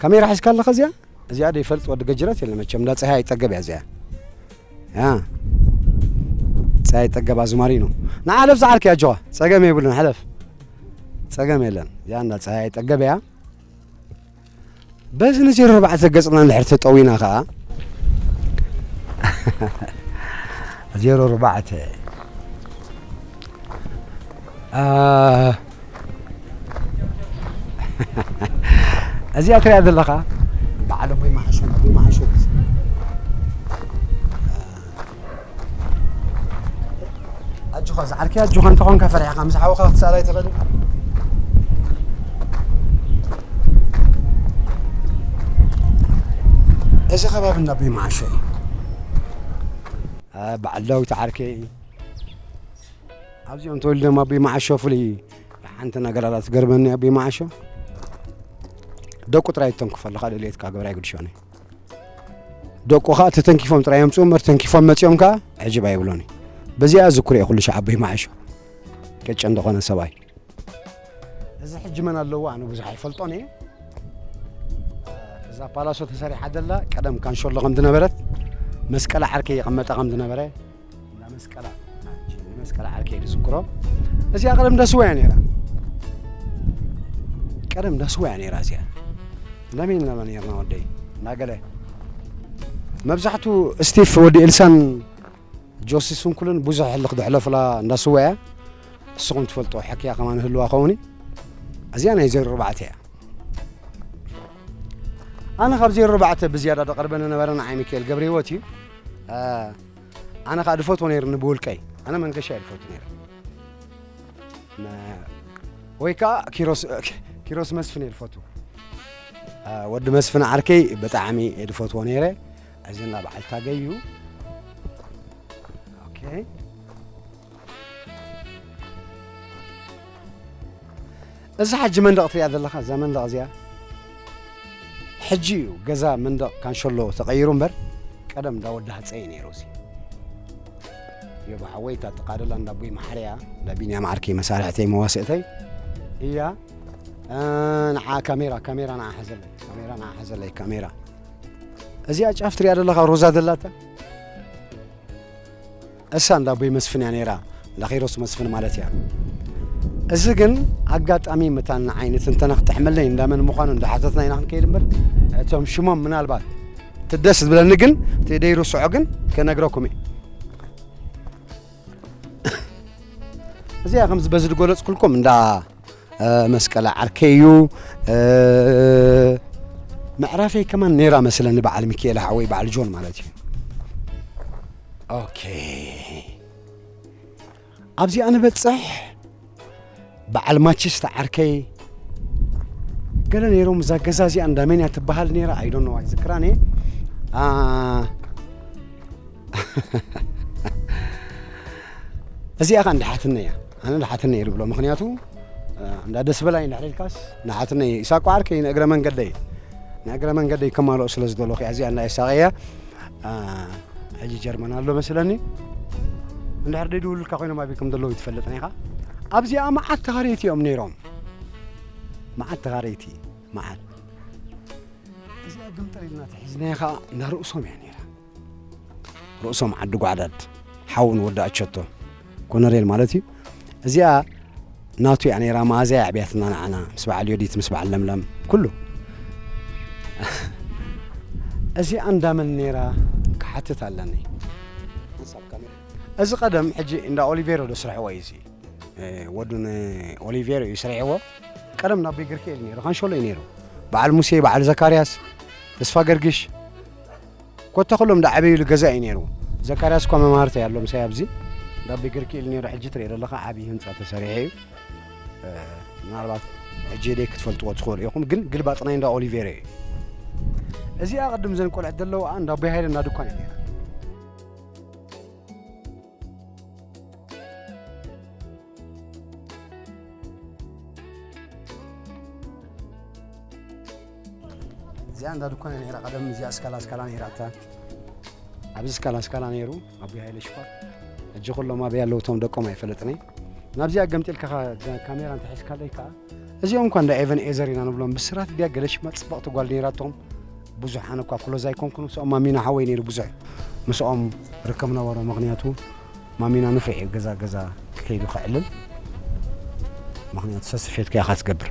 ካሜራ ሒዝካ ኣለኻ እዚኣ እዚኣ ዶ ይፈልጥ ወዲ ገጅረት የለ መቸም እንዳ ፀሃይ ኣይጠገብ እያ እዚኣ ያ ፀሃይ ኣይጠገብ ኣዝማሪኖ ንዓለፍ ዝዓልክ እያ ጆኻ ፀገም የብሉን ሕለፍ ፀገም የለን እዚኣ እንዳ ፀሃይ ኣይጠገብ እያ በዚ ንዜሮ ኣርባዕተ ገፅና እንድሕር ተጠዊና ከዓ ዜሮ ኣርባዕተ እዚኣ ትሪኣ ዘለኻ በዓል ኣቦይ መዓሾ ኣቦይ መዓሾ ኣጆኻ ዝዓርከያ ኣጆኻ እንተኾንካ ፈሪሕኻ ምስ ሓውኻ ክትሰኣላ ኣይትኽእል እዚ ከባቢ እንዳ ኣቦይ መዓሾ እዩ በዓል ዳዊት ዓርከይ እዩ ኣብዚኦም ተወሊዶም ኣቦይ መዓሾ ፍሉይ ሓንቲ ነገር ኣላ ትገርመኒ ኣቦይ መዓሾ ደቁ ጥራይ ተንክፎ ኣለካ ድሌትካ ግብራ ይግድሾኒ ደቁ ከዓ ተተንኪፎም ጥራይ እዮም ፅኡ ተንኪፎም መፂኦም ከዓ ዕጅብ ኣይብሎኒ በዚኣ ዝኩር እየ ኩሉ ሻዕ ኣቦይ መዓሾ ቅጭ እንደኾነ ሰብኣይ እዚ ሕጂ መን ኣለዎ ኣነ ብዙሕ ኣይፈልጦን እየ እዛ ፓላሶ ተሰሪሓ ዘላ ቀደም ካንሸሎ ከም ዝነበረት መስቀል ዓርከይ ይቐመጣ ከም ዝነበረ መስቀላ መስቀላ ዓርከይ ዝዝክሮ እዚኣ ቀደም ዳስዋ እያ ነይራ ቀደም ዳስዋ እያ ነይራ እዚኣ ለመን ለመን ነርና ወደይ እናገለ መብዛሕቱ ስቲፍ ወዲ ኤልሳን ጆሲ ስንኩልን ብዙሕ ሕልኽ ደሕለፍላ እንዳስዋ እያ ንስኹም ትፈልጦ ሓኪያ ከማ ንህልዋ ኸውኒ እዚኣ ናይ ዜሮ ኣርባዕተ እያ ኣነ ካብ ዜሮ ኣርባዕተ ብዝያዳ ደቐርበ ዝነበረ ንዓይ ሚካኤል ገብረ ህይወት እዩ ኣነ ከዓ ድፈትዎ ነይርኒ ብውልቀይ ኣነ መንገሻ እየ ድፈቱ ነይረ ወይ ከዓ ኪሮስ መስፍን እየ ድፈቱ ወዲ መስፍን ዓርከይ ብጣዕሚ እየ ድፈትዎ ነይረ እዚ እንዳ በዓል ታገይ እዩ ኦኬ እዛ ሕጂ መንደቕ ትሪኣ ዘለኻ እዛ መንደቕ እዚኣ ሕጂ እዩ ገዛ መንደቕ ካንሸሎ ተቐይሩ እምበር ቀደም እንዳ ወዲ ሃፀይ እዩ ነይሩ እዚ ዮባ ሓወይ እታ ጥቃ ደላ እንዳ ኣቦይ መሓርያ እንዳ ቢንያም ዓርከይ መሳርሕተይ መዋስእተይ እያ ንዓ ካሜራ ካሜራ ንዓ ሓዘለይ ካሜራ ንዓ ሓዘለይ ካሜራ እዚኣ ጫፍ ትሪኣ ዘለኻ ሮዛ ደላታ እሳ እንዳ ኣቦይ መስፍን እያ ነይራ እንዳ ኪሮስ መስፍን ማለት እያ እዚ ግን ኣጋጣሚ መታን ንዓይኒ ትንተና ክትሕመለይ እንዳመን ምዃኑ እንዳሓተትና ኢና ክንከይድ እምበር እቶም ሽሞም ምናልባት ትደስ ዝብለኒ ግን ተደይ ርስዖ ግን ከነግረኩም እየ እዚኣ ከምዚ በዚ ዝገለፅኩልኩም እንዳ መስቀለ ዓርከ እዩ ምዕራፈይ ከማን ነይራ መስለኒ በዓል ሚካኤል ሓወይ በዓል ጆን ማለት እዩ ኦኬ ኣብዚኣ ንበጽሕ በዓል ማችስ ተዓርከይ ገለ ነይሮም እዛ ገዛ እዚኣ እንዳ መን እያ ትበሃል ነይራ ኣይዶኖ ኣይዝክራን እየ እዚኣ ከዓ እንዳ ሓትነ እያ ኣነ እንዳ ሓትነ እየ ዝብሎ ምክንያቱ እንዳ ደስ በላይ እንዳ ሕደልካስ እንዳ ሓትነ እየ ኢሳቋ ዓርከይ ንእግረ መንገደይ ንእግረ መንገደይ ከማልኦ ስለ ዝደለኹ እያ እዚኣ እንዳ ኢሳቀ እያ ሕጂ ጀርመን ኣሎ መስለኒ እንድሕር ደይድውሉልካ ኮይኖም ኣበይ ከም ዘለዉ ይትፈልጥን ኢኻ ኣብዚኣ መዓት ተኻረይቲ እዮም ነይሮም መዓት ተኻረይቲ መዓት እዚኣ ግምጥል ኢልና ተሒዝናያ ከዓ እንዳ ርእሶም እያ ነይራ ርእሶም ዓዲ ጓዕዳድ ሓውን ወዲ ኣቸቶ ኮነሬል ማለት እዩ እዚኣ ናቱ እያ ነይራ መኣዝያ ኣዕብያትና ንዓና ምስ በዓል ዮዲት ምስ በዓል ለምለም ኩሉ እዚኣ እንዳመን ነይራ ክሓትት ኣለኒ እዚ ቀደም ሕጂ እንዳ ኦሊቬሮ ዶ ስርሕዎ እዩ እዚ ወዱ ንኦሊቬሮ እዩ ስርሕዎ ቀደም ናብ ቤግርክኤል ነይሩ ካንሸሎ እዩ ነይሩ በዓል ሙሴ በዓል ዘካርያስ ተስፋ ገርግሽ ኮታ ኩሎም ዳዓበይሉ ገዛ እዩ ነይሩ ዘካርያስ እኳ መማህርተይ ኣሎ ምሳይ ኣብዚ ዳቢ ግርክ ኢሉ ነይሩ ሕጂ ትሪኦ ዘለካ ዓብዪ ህንፃ ተሰሪሐ እዩ ምናልባት ሕጂ ደይ ክትፈልጥዎ ትኽእሉ ኢኹም ግን ግልባጥ ናይ እንዳ ኦሊቬሬ እዩ እዚኣ ቅድም ዘን ቆልዐት ዘለዋ እንዳ ኣቦይ ሃይለ እንዳ ድኳን እዩ ነይራ እዚኣ እንዳ ድኳን ነራ ቀደም እዚኣ ስካላ ስካላ ነራ እታ ኣብዚ ስካላ ስካላ ነይሩ ኣቦይ ሃይለ ሽፋር ሕጂ ኩሎም ኣበይ ኣለዉ እቶም ደቆም ኣይፈለጥንይ ናብዚኣ ገምጢልካ ካሜራ እንተሒዝካለይ ከዓ እዚኦም እኳ እንዳ ኤቨን ኤዘር ኢና ንብሎም ብስራት ድያ ገለ ሽማ ፅብቕቲ ጓል ነይራቶም ብዙሓን እኳ ክሎዝ ኣይኮንኩን ምስኦም ማሚና ሓወይ ነይሩ ብዙሕ ምስኦም ርከብ ነበሮ ምክንያቱ ማሚና ንፍዕ እዩ ገዛ ገዛ ክከይዱ ክዕልል ምክንያቱ ሰስፌት ከያ ካትገብር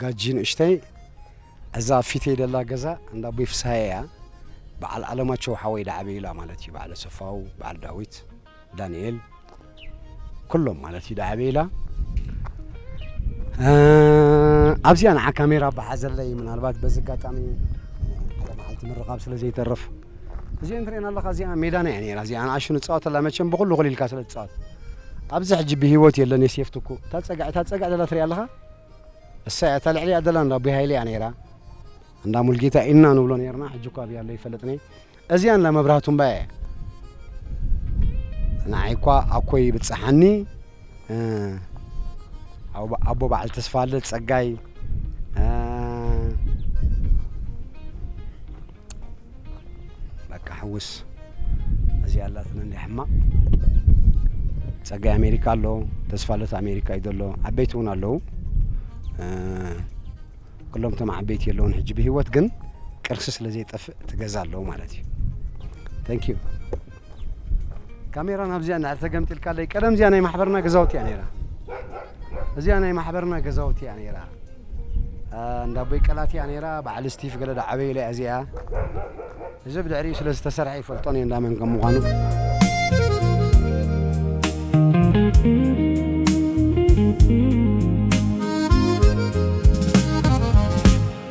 ጋጂ ንእሽተይ እዛ ኣብ ፊተይ ደላ ገዛ እንዳ ኣቦይ ፍስሃየ እያ በዓል ኣለማቸው ሓወይ ዳዓበዩላ ማለት እዩ በዓል ኣሰፋው በዓል ዳዊት ዳንኤል ኩሎም ማለት እዩ ዳዓበዩላ ኣብዚኣ ንዓ ካሜራ በሓዘለይ ምናልባት በዚ ኣጋጣሚ ሓደ መዓልቲ ምርኻብ ስለ ዘይተርፍ እዚኦ እንትርእየና ኣለካ እዚኣ ሜዳና እያ ነራ እዚኣ ንኣሹ ንፃወተላ መቸም ብኩሉ ክልልካ ስለ ትፃወት ኣብዚ ሕጂ ብሂወት የለን የሴፍትኩ እታ ፀግዒ እታ ፀግዒ ደላ ትሪኣ ኣለካ እሰይ ኣታ ልዕሊኣ ዘላ እንዳ ኣቦይ ሃይለ እያ ነይራ እንዳ ሙልጌታ ኢና ንብሎ ነርና ሕጂ እኳ ኣብያ ኣሎ ይፈልጥኒ እዚኣ እንዳ መብራህቱ እምባ እየ ንዓይ እኳ ኣኮይ ይብፅሓኒ ኣቦ በዓል ተስፋለ ፀጋይ በቃ ሕውስ እዚኣ ኣላትና እንደ ሕማቕ ጸጋይ ኣሜሪካ ኣሎ ተስፋለት ኣሜሪካ እዩ ዘሎ ዓበይቲ እውን ኣለዉ እ፣ ኩሎም እቶም ዓበይቲ የለውን ሕጂ ብሂወት ግን ቅርሲ ስለ ዘይጠፍእ ትገዛ ኣለዉ ማለት እዩ ተንኪዩ ካሜራ ናብዚኣ እንድሕር ተገምጢልካለይ ቀደም እዚኣ ናይ ማሕበርና ገዛውቲ እያ ነይራ እዚኣ ናይ ማሕበርና ገዛውቲ እያ ነይራ እንዳ ኣቦይ ቀላት እያ ነይራ በዓል ስቲፍ ገለ ዳዓበይለ እያ እዚኣ እዚ ብድሕሪኡ ስለ ዝተሰርሐ ይፈልጦን እየ እንዳመን ከም ምዃኑ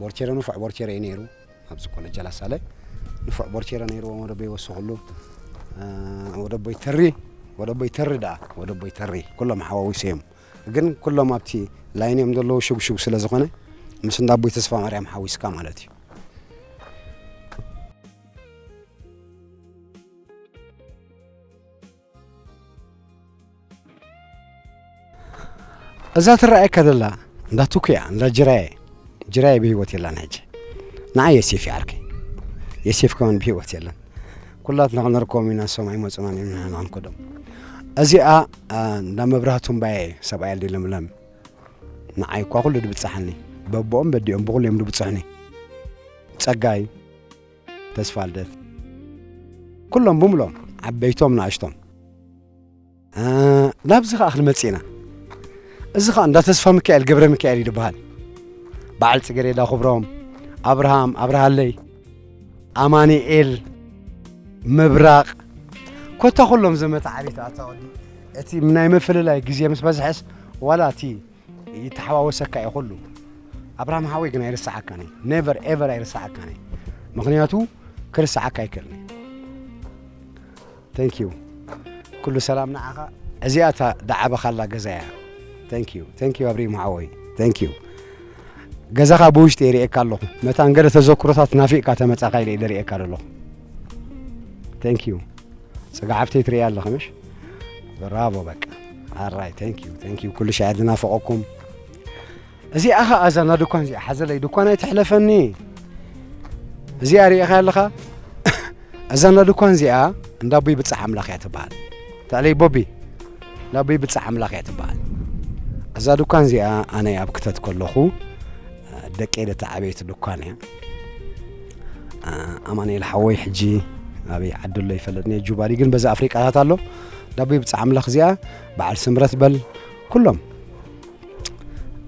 ቦርቼረ ንፉዕ ቦርቼረ እዩ ነይሩ ኣብዚ ኮለጃ ላሳለ ንፉዕ ቦርቼረ ነይሩ ወደቦ ይወስኽሉ ወደቦ ይተሪ ወደቦ ይተሪ ደኣ ወደቦ ይተሪ ኩሎም ሓዋዊሶ እዮም ግን ኩሎም ኣብቲ ላይን እዮም ዘለዉ ሽግሽግ ስለ ዝኾነ ምስ እንዳ ኣቦይ ተስፋ ማርያም ሓዊስካ ማለት እዩ እዛ ትረኣየካ ዘላ እንዳ ቱኩ እያ እንዳ ጅራየ ጅራየ ብሂወት የላን ሕጂ ንዓ የሴፍ ይዓርከ የሴፍ ከማን ብሂወት የለን ኩላትና ክንርከቦም ኢና እሶም ኣይመፁናን እዮም ንሕና ክንከዶም እዚኣ እንዳ መብራህቱ እምባየ ሰብኣይ ኣልዲ ለምለም ንዓይ እኳ ኩሉ ድብፅሓኒ በቦኦም በዲኦም ብኩሉ እዮም ድብፅሑኒ ፀጋይ ተስፋልደት ኩሎም ብምሎም ዓበይቶም ንኣሽቶም ናብዚ ከዓ ክንመፅእ ኢና እዚ ከዓ እንዳ ተስፋ ሚካኤል ገብረ ሚካኤል እዩ ዝበሃል በዓል ፅገሬዳ ክብሮም ኣብርሃም ኣብርሃለይ ኣማኒኤል ምብራቕ ኮታ ኩሎም ዘመተ ዓሌት ኣታወዲ እቲ ናይ ምፍልላይ ግዜ ምስ በዝሐስ ዋላ እቲ ይተሓዋወሰካ እዩ ኩሉ ኣብርሃም ሓወይ ግን ኣይርስዓካን እዩ ኔቨር ኤቨር ኣይርስዓካን እዩ ምክንያቱ ክርስዓካ ኣይክእልን ቴንክ ዩ ኩሉ ሰላም ንዓኻ እዚኣ እታ ዳዓበኻላ ገዛ እያ ቴንክ ዩ ቴንክ ዩ ኣብሪሂም ሓወይ ቴንክ ዩ ገዛኻ ብውሽጢ ይርእየካ ኣለኹ መታን ገለ ተዘክሮታት ናፊቕካ ተመጻኻ ኢለ ኢለ ርእየካ ዘለኹ ቴንክ ዩ ጽጋዓፍተይ ትርእያ ኣለኺ ምሽ ብራቮ በቃ ኣራይ ተንኪዩ ተንኪዩ ኩሉ ሻዕ ዝናፈቐኩም እዚኣ ኸ ኣዛ ና ድኳን እዚኣ ሓዘለይ ድኳን ኣይትሕለፈኒ እዚኣ ርኢኻ ኣለኻ እዛ ና ድኳን እዚኣ እንዳ ኣቦይ ብፃሕ ኣምላኽ እያ ትበሃል ተዕለይ ቦቢ እንዳ ኣቦይ ብፃሕ ኣምላኽ እያ ትበሃል እዛ ድኳን እዚኣ ኣነ ኣብ ክተት ከለኹ ደቂ ደቲ ዓበይቲ ድኳን እያ ኣማንኤል ሓወይ ሕጂ ኣበይ ዓዲ ኣሎ ይፈለጥኒ ጁባሊ ግን በዛ ኣፍሪቃታት ኣሎ ዳቦይ ብጻ ኣምላኽ እዚኣ በዓል ስምረት በል ኩሎም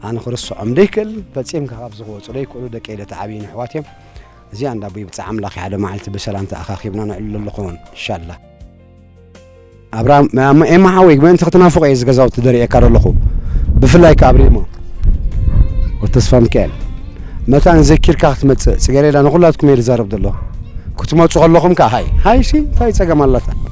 ኣነ ክርስዖም ደይክእል ፈጺምካ ካብ ዝወፁ ደይክእሉ ደቂ ኢለ ተዓብዩ ንሕዋት እዮም እዚኣ እንዳ ኣቦይ ብፃዕ ኣምላኽ ሓደ መዓልቲ ብሰላም ተኣኻኺብና ንዕሉ ኣለኹን እንሻላ ኣብርሃም ኤማ ሓወይ ምእንቲ ክትናፍቆ እየ ዝገዛውቲ ደርእየካ ዘለኹ ብፍላይ ከዓ ኣብ ሬማ ወተስፋ ሚካኤል መታን ዘኪርካ ክትመፅእ ፅገሬዳ ንኩላትኩም እየ ዝዛረብ ዘሎ ክትመፁ ከለኹም ከዓ ሃይ ሃይ ሲ እንታይ ፀገም ኣላታ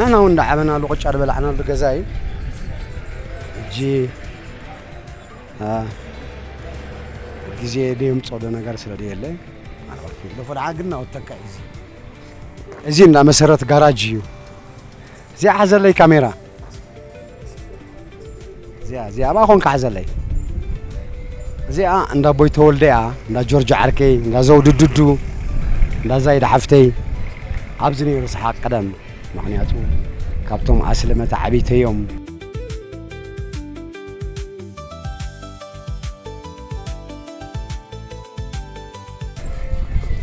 ንሕና እውን እንዳዓበናሉ ቅጫ ዝበላዕናሉ ገዛ እዩ ሕጂ ግዜ ደየምፅኦ ዶ ነገር ስለ ደየለ ኣልዕርፊ ዶ ፎድዓ ግን ናወተካ እዩ እዚ እዚ እንዳ መሰረት ጋራጅ እዩ እዚኣ ሓዘለይ ካሜራ እዚኣ እዚኣ ኣብኣ ኮንካ ሓዘለይ እዚኣ እንዳ ቦይ ተወልደ እያ እንዳ ጆርጆ ዓርከይ እንዳ ዘውዱ ድዱ እንዳ ዛይድ ሓፍተይ ኣብዚ ነይሩ ሰሓቅ ቀደም ምክንያቱ ካብቶም ኣስለመታ ዓብይተዮም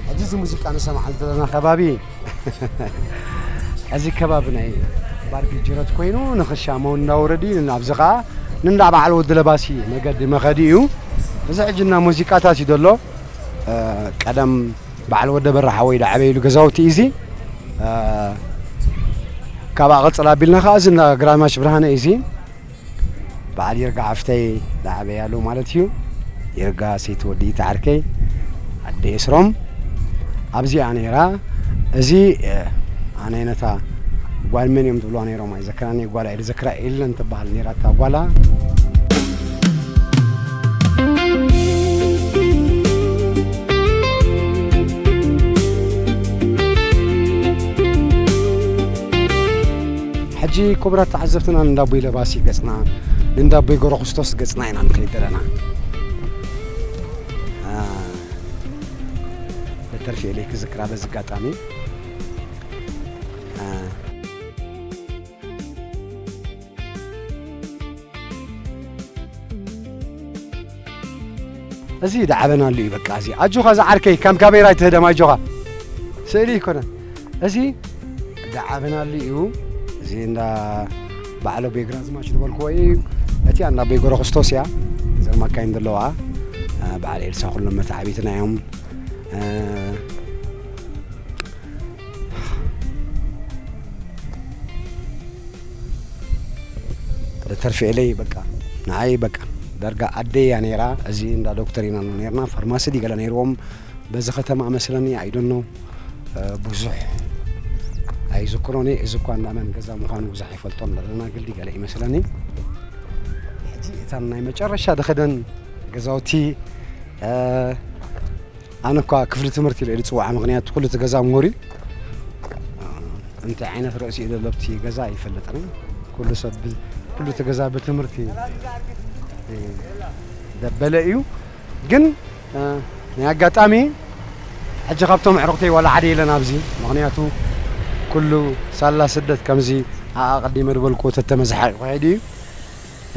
ሕጂ እዚ ሙዚቃ ንሰምዓሉ ዘለና ከባቢ እዚ ከባቢ ናይ ባርጊ ጅረት ኮይኑ ንክሻሞ እንዳወረዲ ኣብዚ ከዓ ንእንዳ በዓል ወዲ ለባሲ መገዲ መኸዲ እዩ እዚ ሕጂ እና ሙዚቃታት እዩ ዘሎ ቀደም በዓል ወደ በራ ሓወይ ዳዕበይሉ ገዛውቲ እዩ እዚ ካብኣ ቅፅል ኣቢልና ከዓ እዚ እንዳ ግራዝማች ብርሃነ እዩ እዚ በዓል ይርጋ ሓፍተይ ዝዓበየ ኣሎ ማለት እዩ ይርጋ ሰይቲ ወዲ እቲ ዓርከይ ኣደ የስሮም ኣብዚኣ ነይራ እዚ ኣነ ነታ ጓል መን እዮም ዝብልዋ ነይሮም ኣይዘክራኒ ጓል ኣይ ዝዘክራ ኢለን ትበሃል ነይራ እታ ጓላ ሕጂ ኩቡራት ተዓዘብትና ንእንዳቦይ ለባሲ ገጽና ንእንዳቦይ ገረኹስቶስ ገጽና ኢና ንኸይድ ደለና በተርፊ ኤለይ ክዝክራ በዚ ኣጋጣሚ እዚ ዳዓበናሉ እዩ በቃ እዚ ኣጆኻ ዝዓርከይ ከም ካሜራ ኣይትህደም ኣጆኻ ስእሊ ይኮነ እዚ ዳዓበናሉ እዩ እዚ እንዳ ባዕሎ ቤግራዝማች ዝበልክዎ እዩ እቲ እንዳ ቤጎሮ ክርስቶስ እያ እዘን ማካይን ዘለዋ በዓል ኤልሳ ኩሎም መታዓቢትና እዮም ተርፊኤለይ በቃ ንዓይ በቃ ዳርጋ ኣደይ እያ ነይራ እዚ እንዳ ዶክተር ኢና ነርና ፋርማሲ ድዩ ገለ ነይርዎም በዚ ከተማ መስለኒ ኣይደኖ ብዙሕ ኣይዝክሮን እየ እዚ እኳ እንዳመን ገዛ ምዃኑ ብዙሕ ኣይፈልጦን ዘለና ግልዲ ገለ እዩ መስለኒ ሕጂ እታ ናይ መጨረሻ ድኸደን ገዛውቲ ኣነ እኳ ክፍሊ ትምህርቲ ኢለ ዝፅውዓ ምክንያቱ ኩሉ እቲ ገዛ ሙሁር እዩ እንታይ ዓይነት ርእሲ እዩ ዘሎ እቲ ገዛ ኣይፈልጥን ኩሉ ሰብ ኩሉ እቲ ገዛ ብትምህርቲ ደበለ እዩ ግን ናይ ኣጋጣሚ ሕጂ ካብቶም ኣዕሩኽተይ ዋላ ሓደ የለን ኣብዚ ምክንያቱ ኩሉ ሳላ ስደት ከምዚ ኣቐዲመ ዝበልኩ ተተመዝሓ ይኸይድ እዩ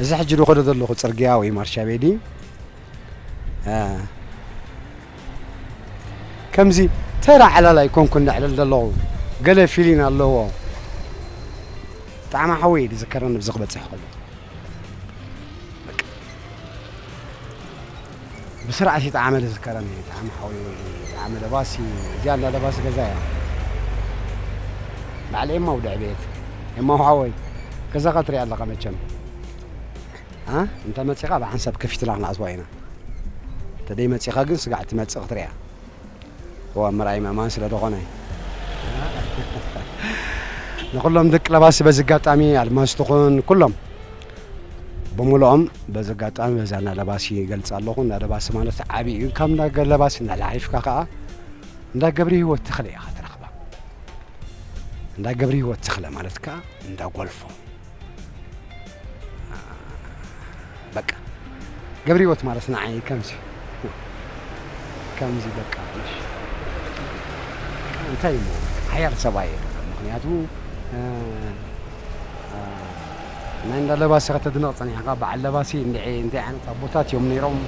እዚ ሕጂ ዝኸዶ ዘለኹ ፅርግያ ወይ ማርሻ ቤዲ ከምዚ ተራ ዕላል ኣይኮንኩን ዘዕልል ዘለኹ ገለ ፊሊን ኣለዎ ጣዕማ ሓወይ ዝዝከረኒ ብዚ ክበፅሕ ከሎ ብስርዓት እዩ ጣዕመ ዝዝከረኒ ጣዕሚ ሓወይ ጣዕመ ለባሲ እዚኣ እንዳ ለባሲ ገዛ እያ ባዕሊ ኤማ ውድዕ ቤት ኤማ ሓወይ ገዛኻ ትሪኣ ኣለኻ መቸም እ እንተ መጺኻ ብ ዓንሰብ ከፊትና ክነኣትዋ ኢና ተደይ መጺኻ ግን ስጋዕ ትመጽእ ክትሪኣ እዋእ ምርኣይ ምእማን ስለ ደኾነ ንኹሎም ደቂ ለባሲ በዚ ኣጋጣሚ ኣድማስ ትኹን ኩሎም ብምልኦም በዚ ኣጋጣሚ በዛ እንዳ ለባሲ ይገልጽ ኣለኹ እንዳ ለባሲ ማለት ዓብዪ እዩ ካብ እንዳ ለባሲ እናላሓይፍካ ከዓ እንዳ ገብሪ ህይወት ተኽለ ኢኻ ትረኽባ እንዳ ገብሪ ህይወት ተኽለ ማለት ከዓ እንዳ ጎልፎ በቃ ገብሪወት ማለት ንዓይ ከምዚ ከምዚ በቃ እሺ እንታይ እሞ ሓያል ሰብኣይ እየ ድማ ምክንያቱ እ፣ እ፣ ናይ እንዳ ለባሲ ከተድንቕ ጸኒሕካ በዓል ለባሲ እንድዒ እንታይ ዓይነት ኣቦታት እዮም ነይሮም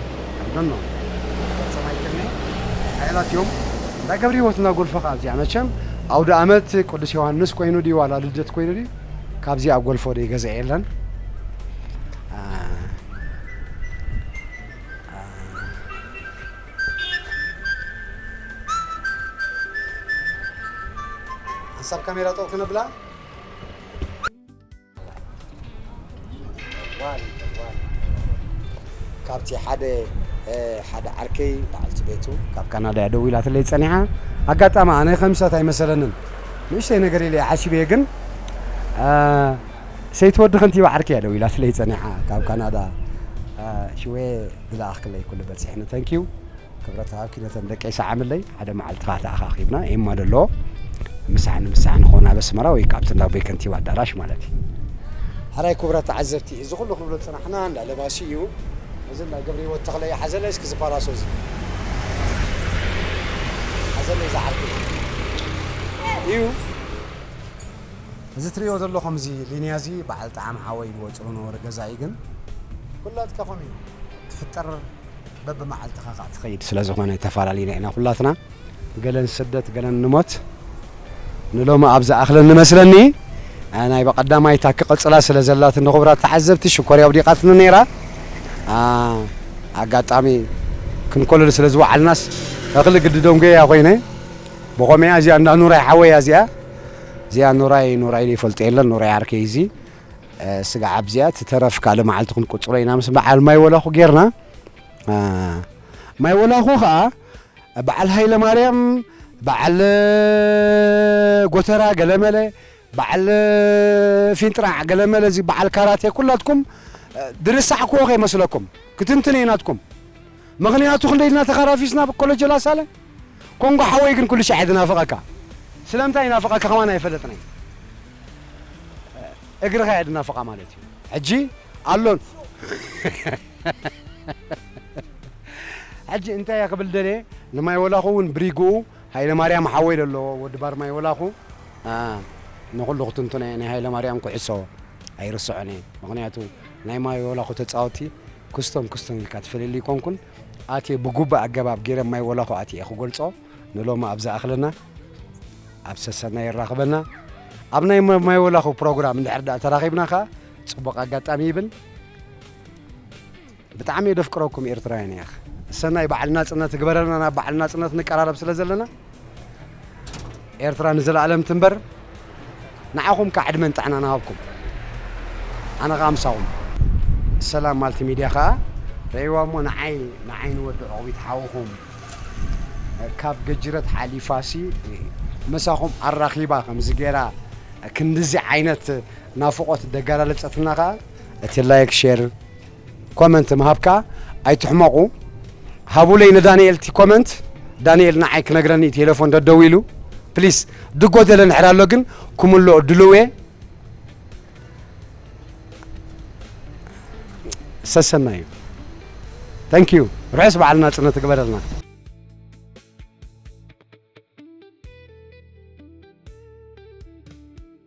ኣይዶኖ ፈጸም ኣይክልኒ ሓያላት እዮም እንዳ ገብሪወት እንዳ ጎልፈኻ ኣብዚኣ መቸም ኣውደ ኣመት ቅዱስ ዮሃንስ ኮይኑ ድዩ ዋላ ልደት ኮይኑ ድዩ ካብዚ ኣብ ጎልፎ ደይ ገዛ የለን ሓንሳብ ካሜራ ጠው ክነብላ ካብቲ ሓደ ሓደ ዓርከይ በዓልቲ ቤቱ ካብ ካናዳ እያ ደዊላትለይ ጸኒሓ ኣጋጣሚ ኣነ ከምሳት ኣይመሰለንን ንእሽተይ ነገር ኢለ ሓሲበየ ግን ሰይቲ ወዲ ከንቲባ ዓርከይ እያ ደዊላትለይ ጸኒሓ ካብ ካናዳ ሽወ ዝለኣኽክለይ ኩሉ በጺሕኒ ተንኪዩ ክብረት ሃብ ኪነተን ደቀይ ሰዓምለይ ሓደ መዓልቲ ከኣ ተኣኻኺብና ኤማ ደሎ ምሳሕ ንምሳሕ ንኸውን ኣብ ኣስመራ ወይ ከኣ ኣብቲ እንዳ ኣቦይ ከንቲባ ኣዳራሽ ማለት እዩ። ሐራይ ኩቡራት ተዓዘብቲ እዚ ኩሉ ክንብሎ ዝጸናሕና እንዳ ለባሲ እዩ እዚ እንዳ ገብሪሂወት ተኽለ እዩ ሓዘለይ እስኪ እዚ ፓላሶ እዚ ሓዘለይ እዚ ዓርኩ እዩ እዚ ትርእይዎ ዘለኹም እዚ ሊንያ እዚ በዓል ጠዓመ ሓወይ ዝወጽኦ ዝነበረ ገዛ እዩ ግን ኩላትካኹም እዩ። ትፍጠር በብመዓልትኻ ካኣ ትኸይድ ስለዝኾነ ተፋላሊና ኢና ኩላትና ገለ ንስደት ገለ ንሞት ንሎሚ ኣብ ዝኣኽለኒ መስለኒ ናይ በቀዳማይ ታክ ቅጽላ ስለዘላትኒ ክቡራት ተዓዘብቲ ሽኮርያ ኣውዲቃትኒ ነይራ ኣጋጣሚ ክንኮልል ስለዝወዓልናስ እኽሊ ግዲ ደንጎየያ ኮይነ ብኾመያ እዚኣ እንዳ ኑራይ ሓወያ እዚኣ እዚኣ ኑራይ ኑራይ ዘይፈልጦ የለን ኑራይ ዓርከይ እዚ ስጋዕ ኣብዚኣ ትተረፍ ካልእ መዓልቲ ክንቁጽሮ ኢና ምስ በዓል ማይ ወላኹ ጌርና ማይ ወላኹ ከኣ በዓል ሃይለማርያም በዓል ጎተራ ገለመለ በዓል ፊንጥራዕ ገለመለ እዚ በዓል ካራቴ ኩላትኩም ድርሳዕክዎ ከይመስለኩም ክትንትን እየ ናትኩም ምኽንያቱ ክንደይ ኢልና ተኻራፊስና ብ ኮሎጆ ላሳለ ኮንጎ ሓወይ ግን ኩሉ ሻዕ እየ ዝናፍቐካ ስለምንታይ ይናፍቐካ ከማን ኣይፈለጥናይ እግርኻ እየ ድናፍቓ ማለት እዩ ሕጂ ኣሎ ሕጂ እንታይ እየ ክብል ደልየ ንማይ ወላኹ እውን ብሪግኡ ሃይለማርያም ሓወይ ለሎ ወዲ ባር ማይ ወላኹ ንኹሉ ክትንትኖ እየ ናይ ሃይለማርያም ኩዕሶ ኣይርስዖን እየ ምኽንያቱ ናይ ማይ ወላኹ ተጻወቲ ክስቶም ክስቶም ኢልካ ትፈልየሉ ኣይኮንኩን ኣትየ ብጉብእ ኣገባብ ጌረ ማይ ወላኹ ኣትየ ክገልጾ ንሎሚ ኣብ ዝኣኽለና ኣብ ሰሰና የራኽበና ኣብ ናይ ማይ ወላኹ ፕሮግራም እንድሕር ዳኣ ተራኺብና ከኣ ጽቡቕ ኣጋጣሚ ይብል ብጣዕሚ የደፍቅረኩም ኤርትራውያን ያኽ ሰናይ በዓል ናጽነት ግበረልና ናብ በዓል ናጽነት ንቀራረብ ስለ ዘለና ኤርትራ ንዘላኣለም ትንበር ንዓኹም ካኣ ዕድመን ጥዕናን ሃብኩም ኣነ ካኣ ምሳኹም። ሰላም ማልቲ ሚድያ ካኣ ረኤዋ እሞ ንዓይ ንዓይ ንወዲ ዑቕቢት ሓውኹም ካብ ገጅረት ሓሊፋሲ ምሳኹም ኣራኺባ ከምዚ ጌራ ክንድዚ ዓይነት ናፍቖት ደጋላለጸትና ካኣ እቲ ላይክ ሼር ኮመንት ምሃብካ ኣይትሕመቑ ሃቡለይ ንዳንኤል እቲ ኮመንት ዳንኤል ንዓይ ክነግረኒ ቴሌፎን ደደዊሉ ፕሊስ ድጎደለ ንሕር ኣሎ ግን ክምልኦ ድልዌ ሰሰናዩ ታንኪዩ ርሑስ በዓል ናጽነት ትግበረልና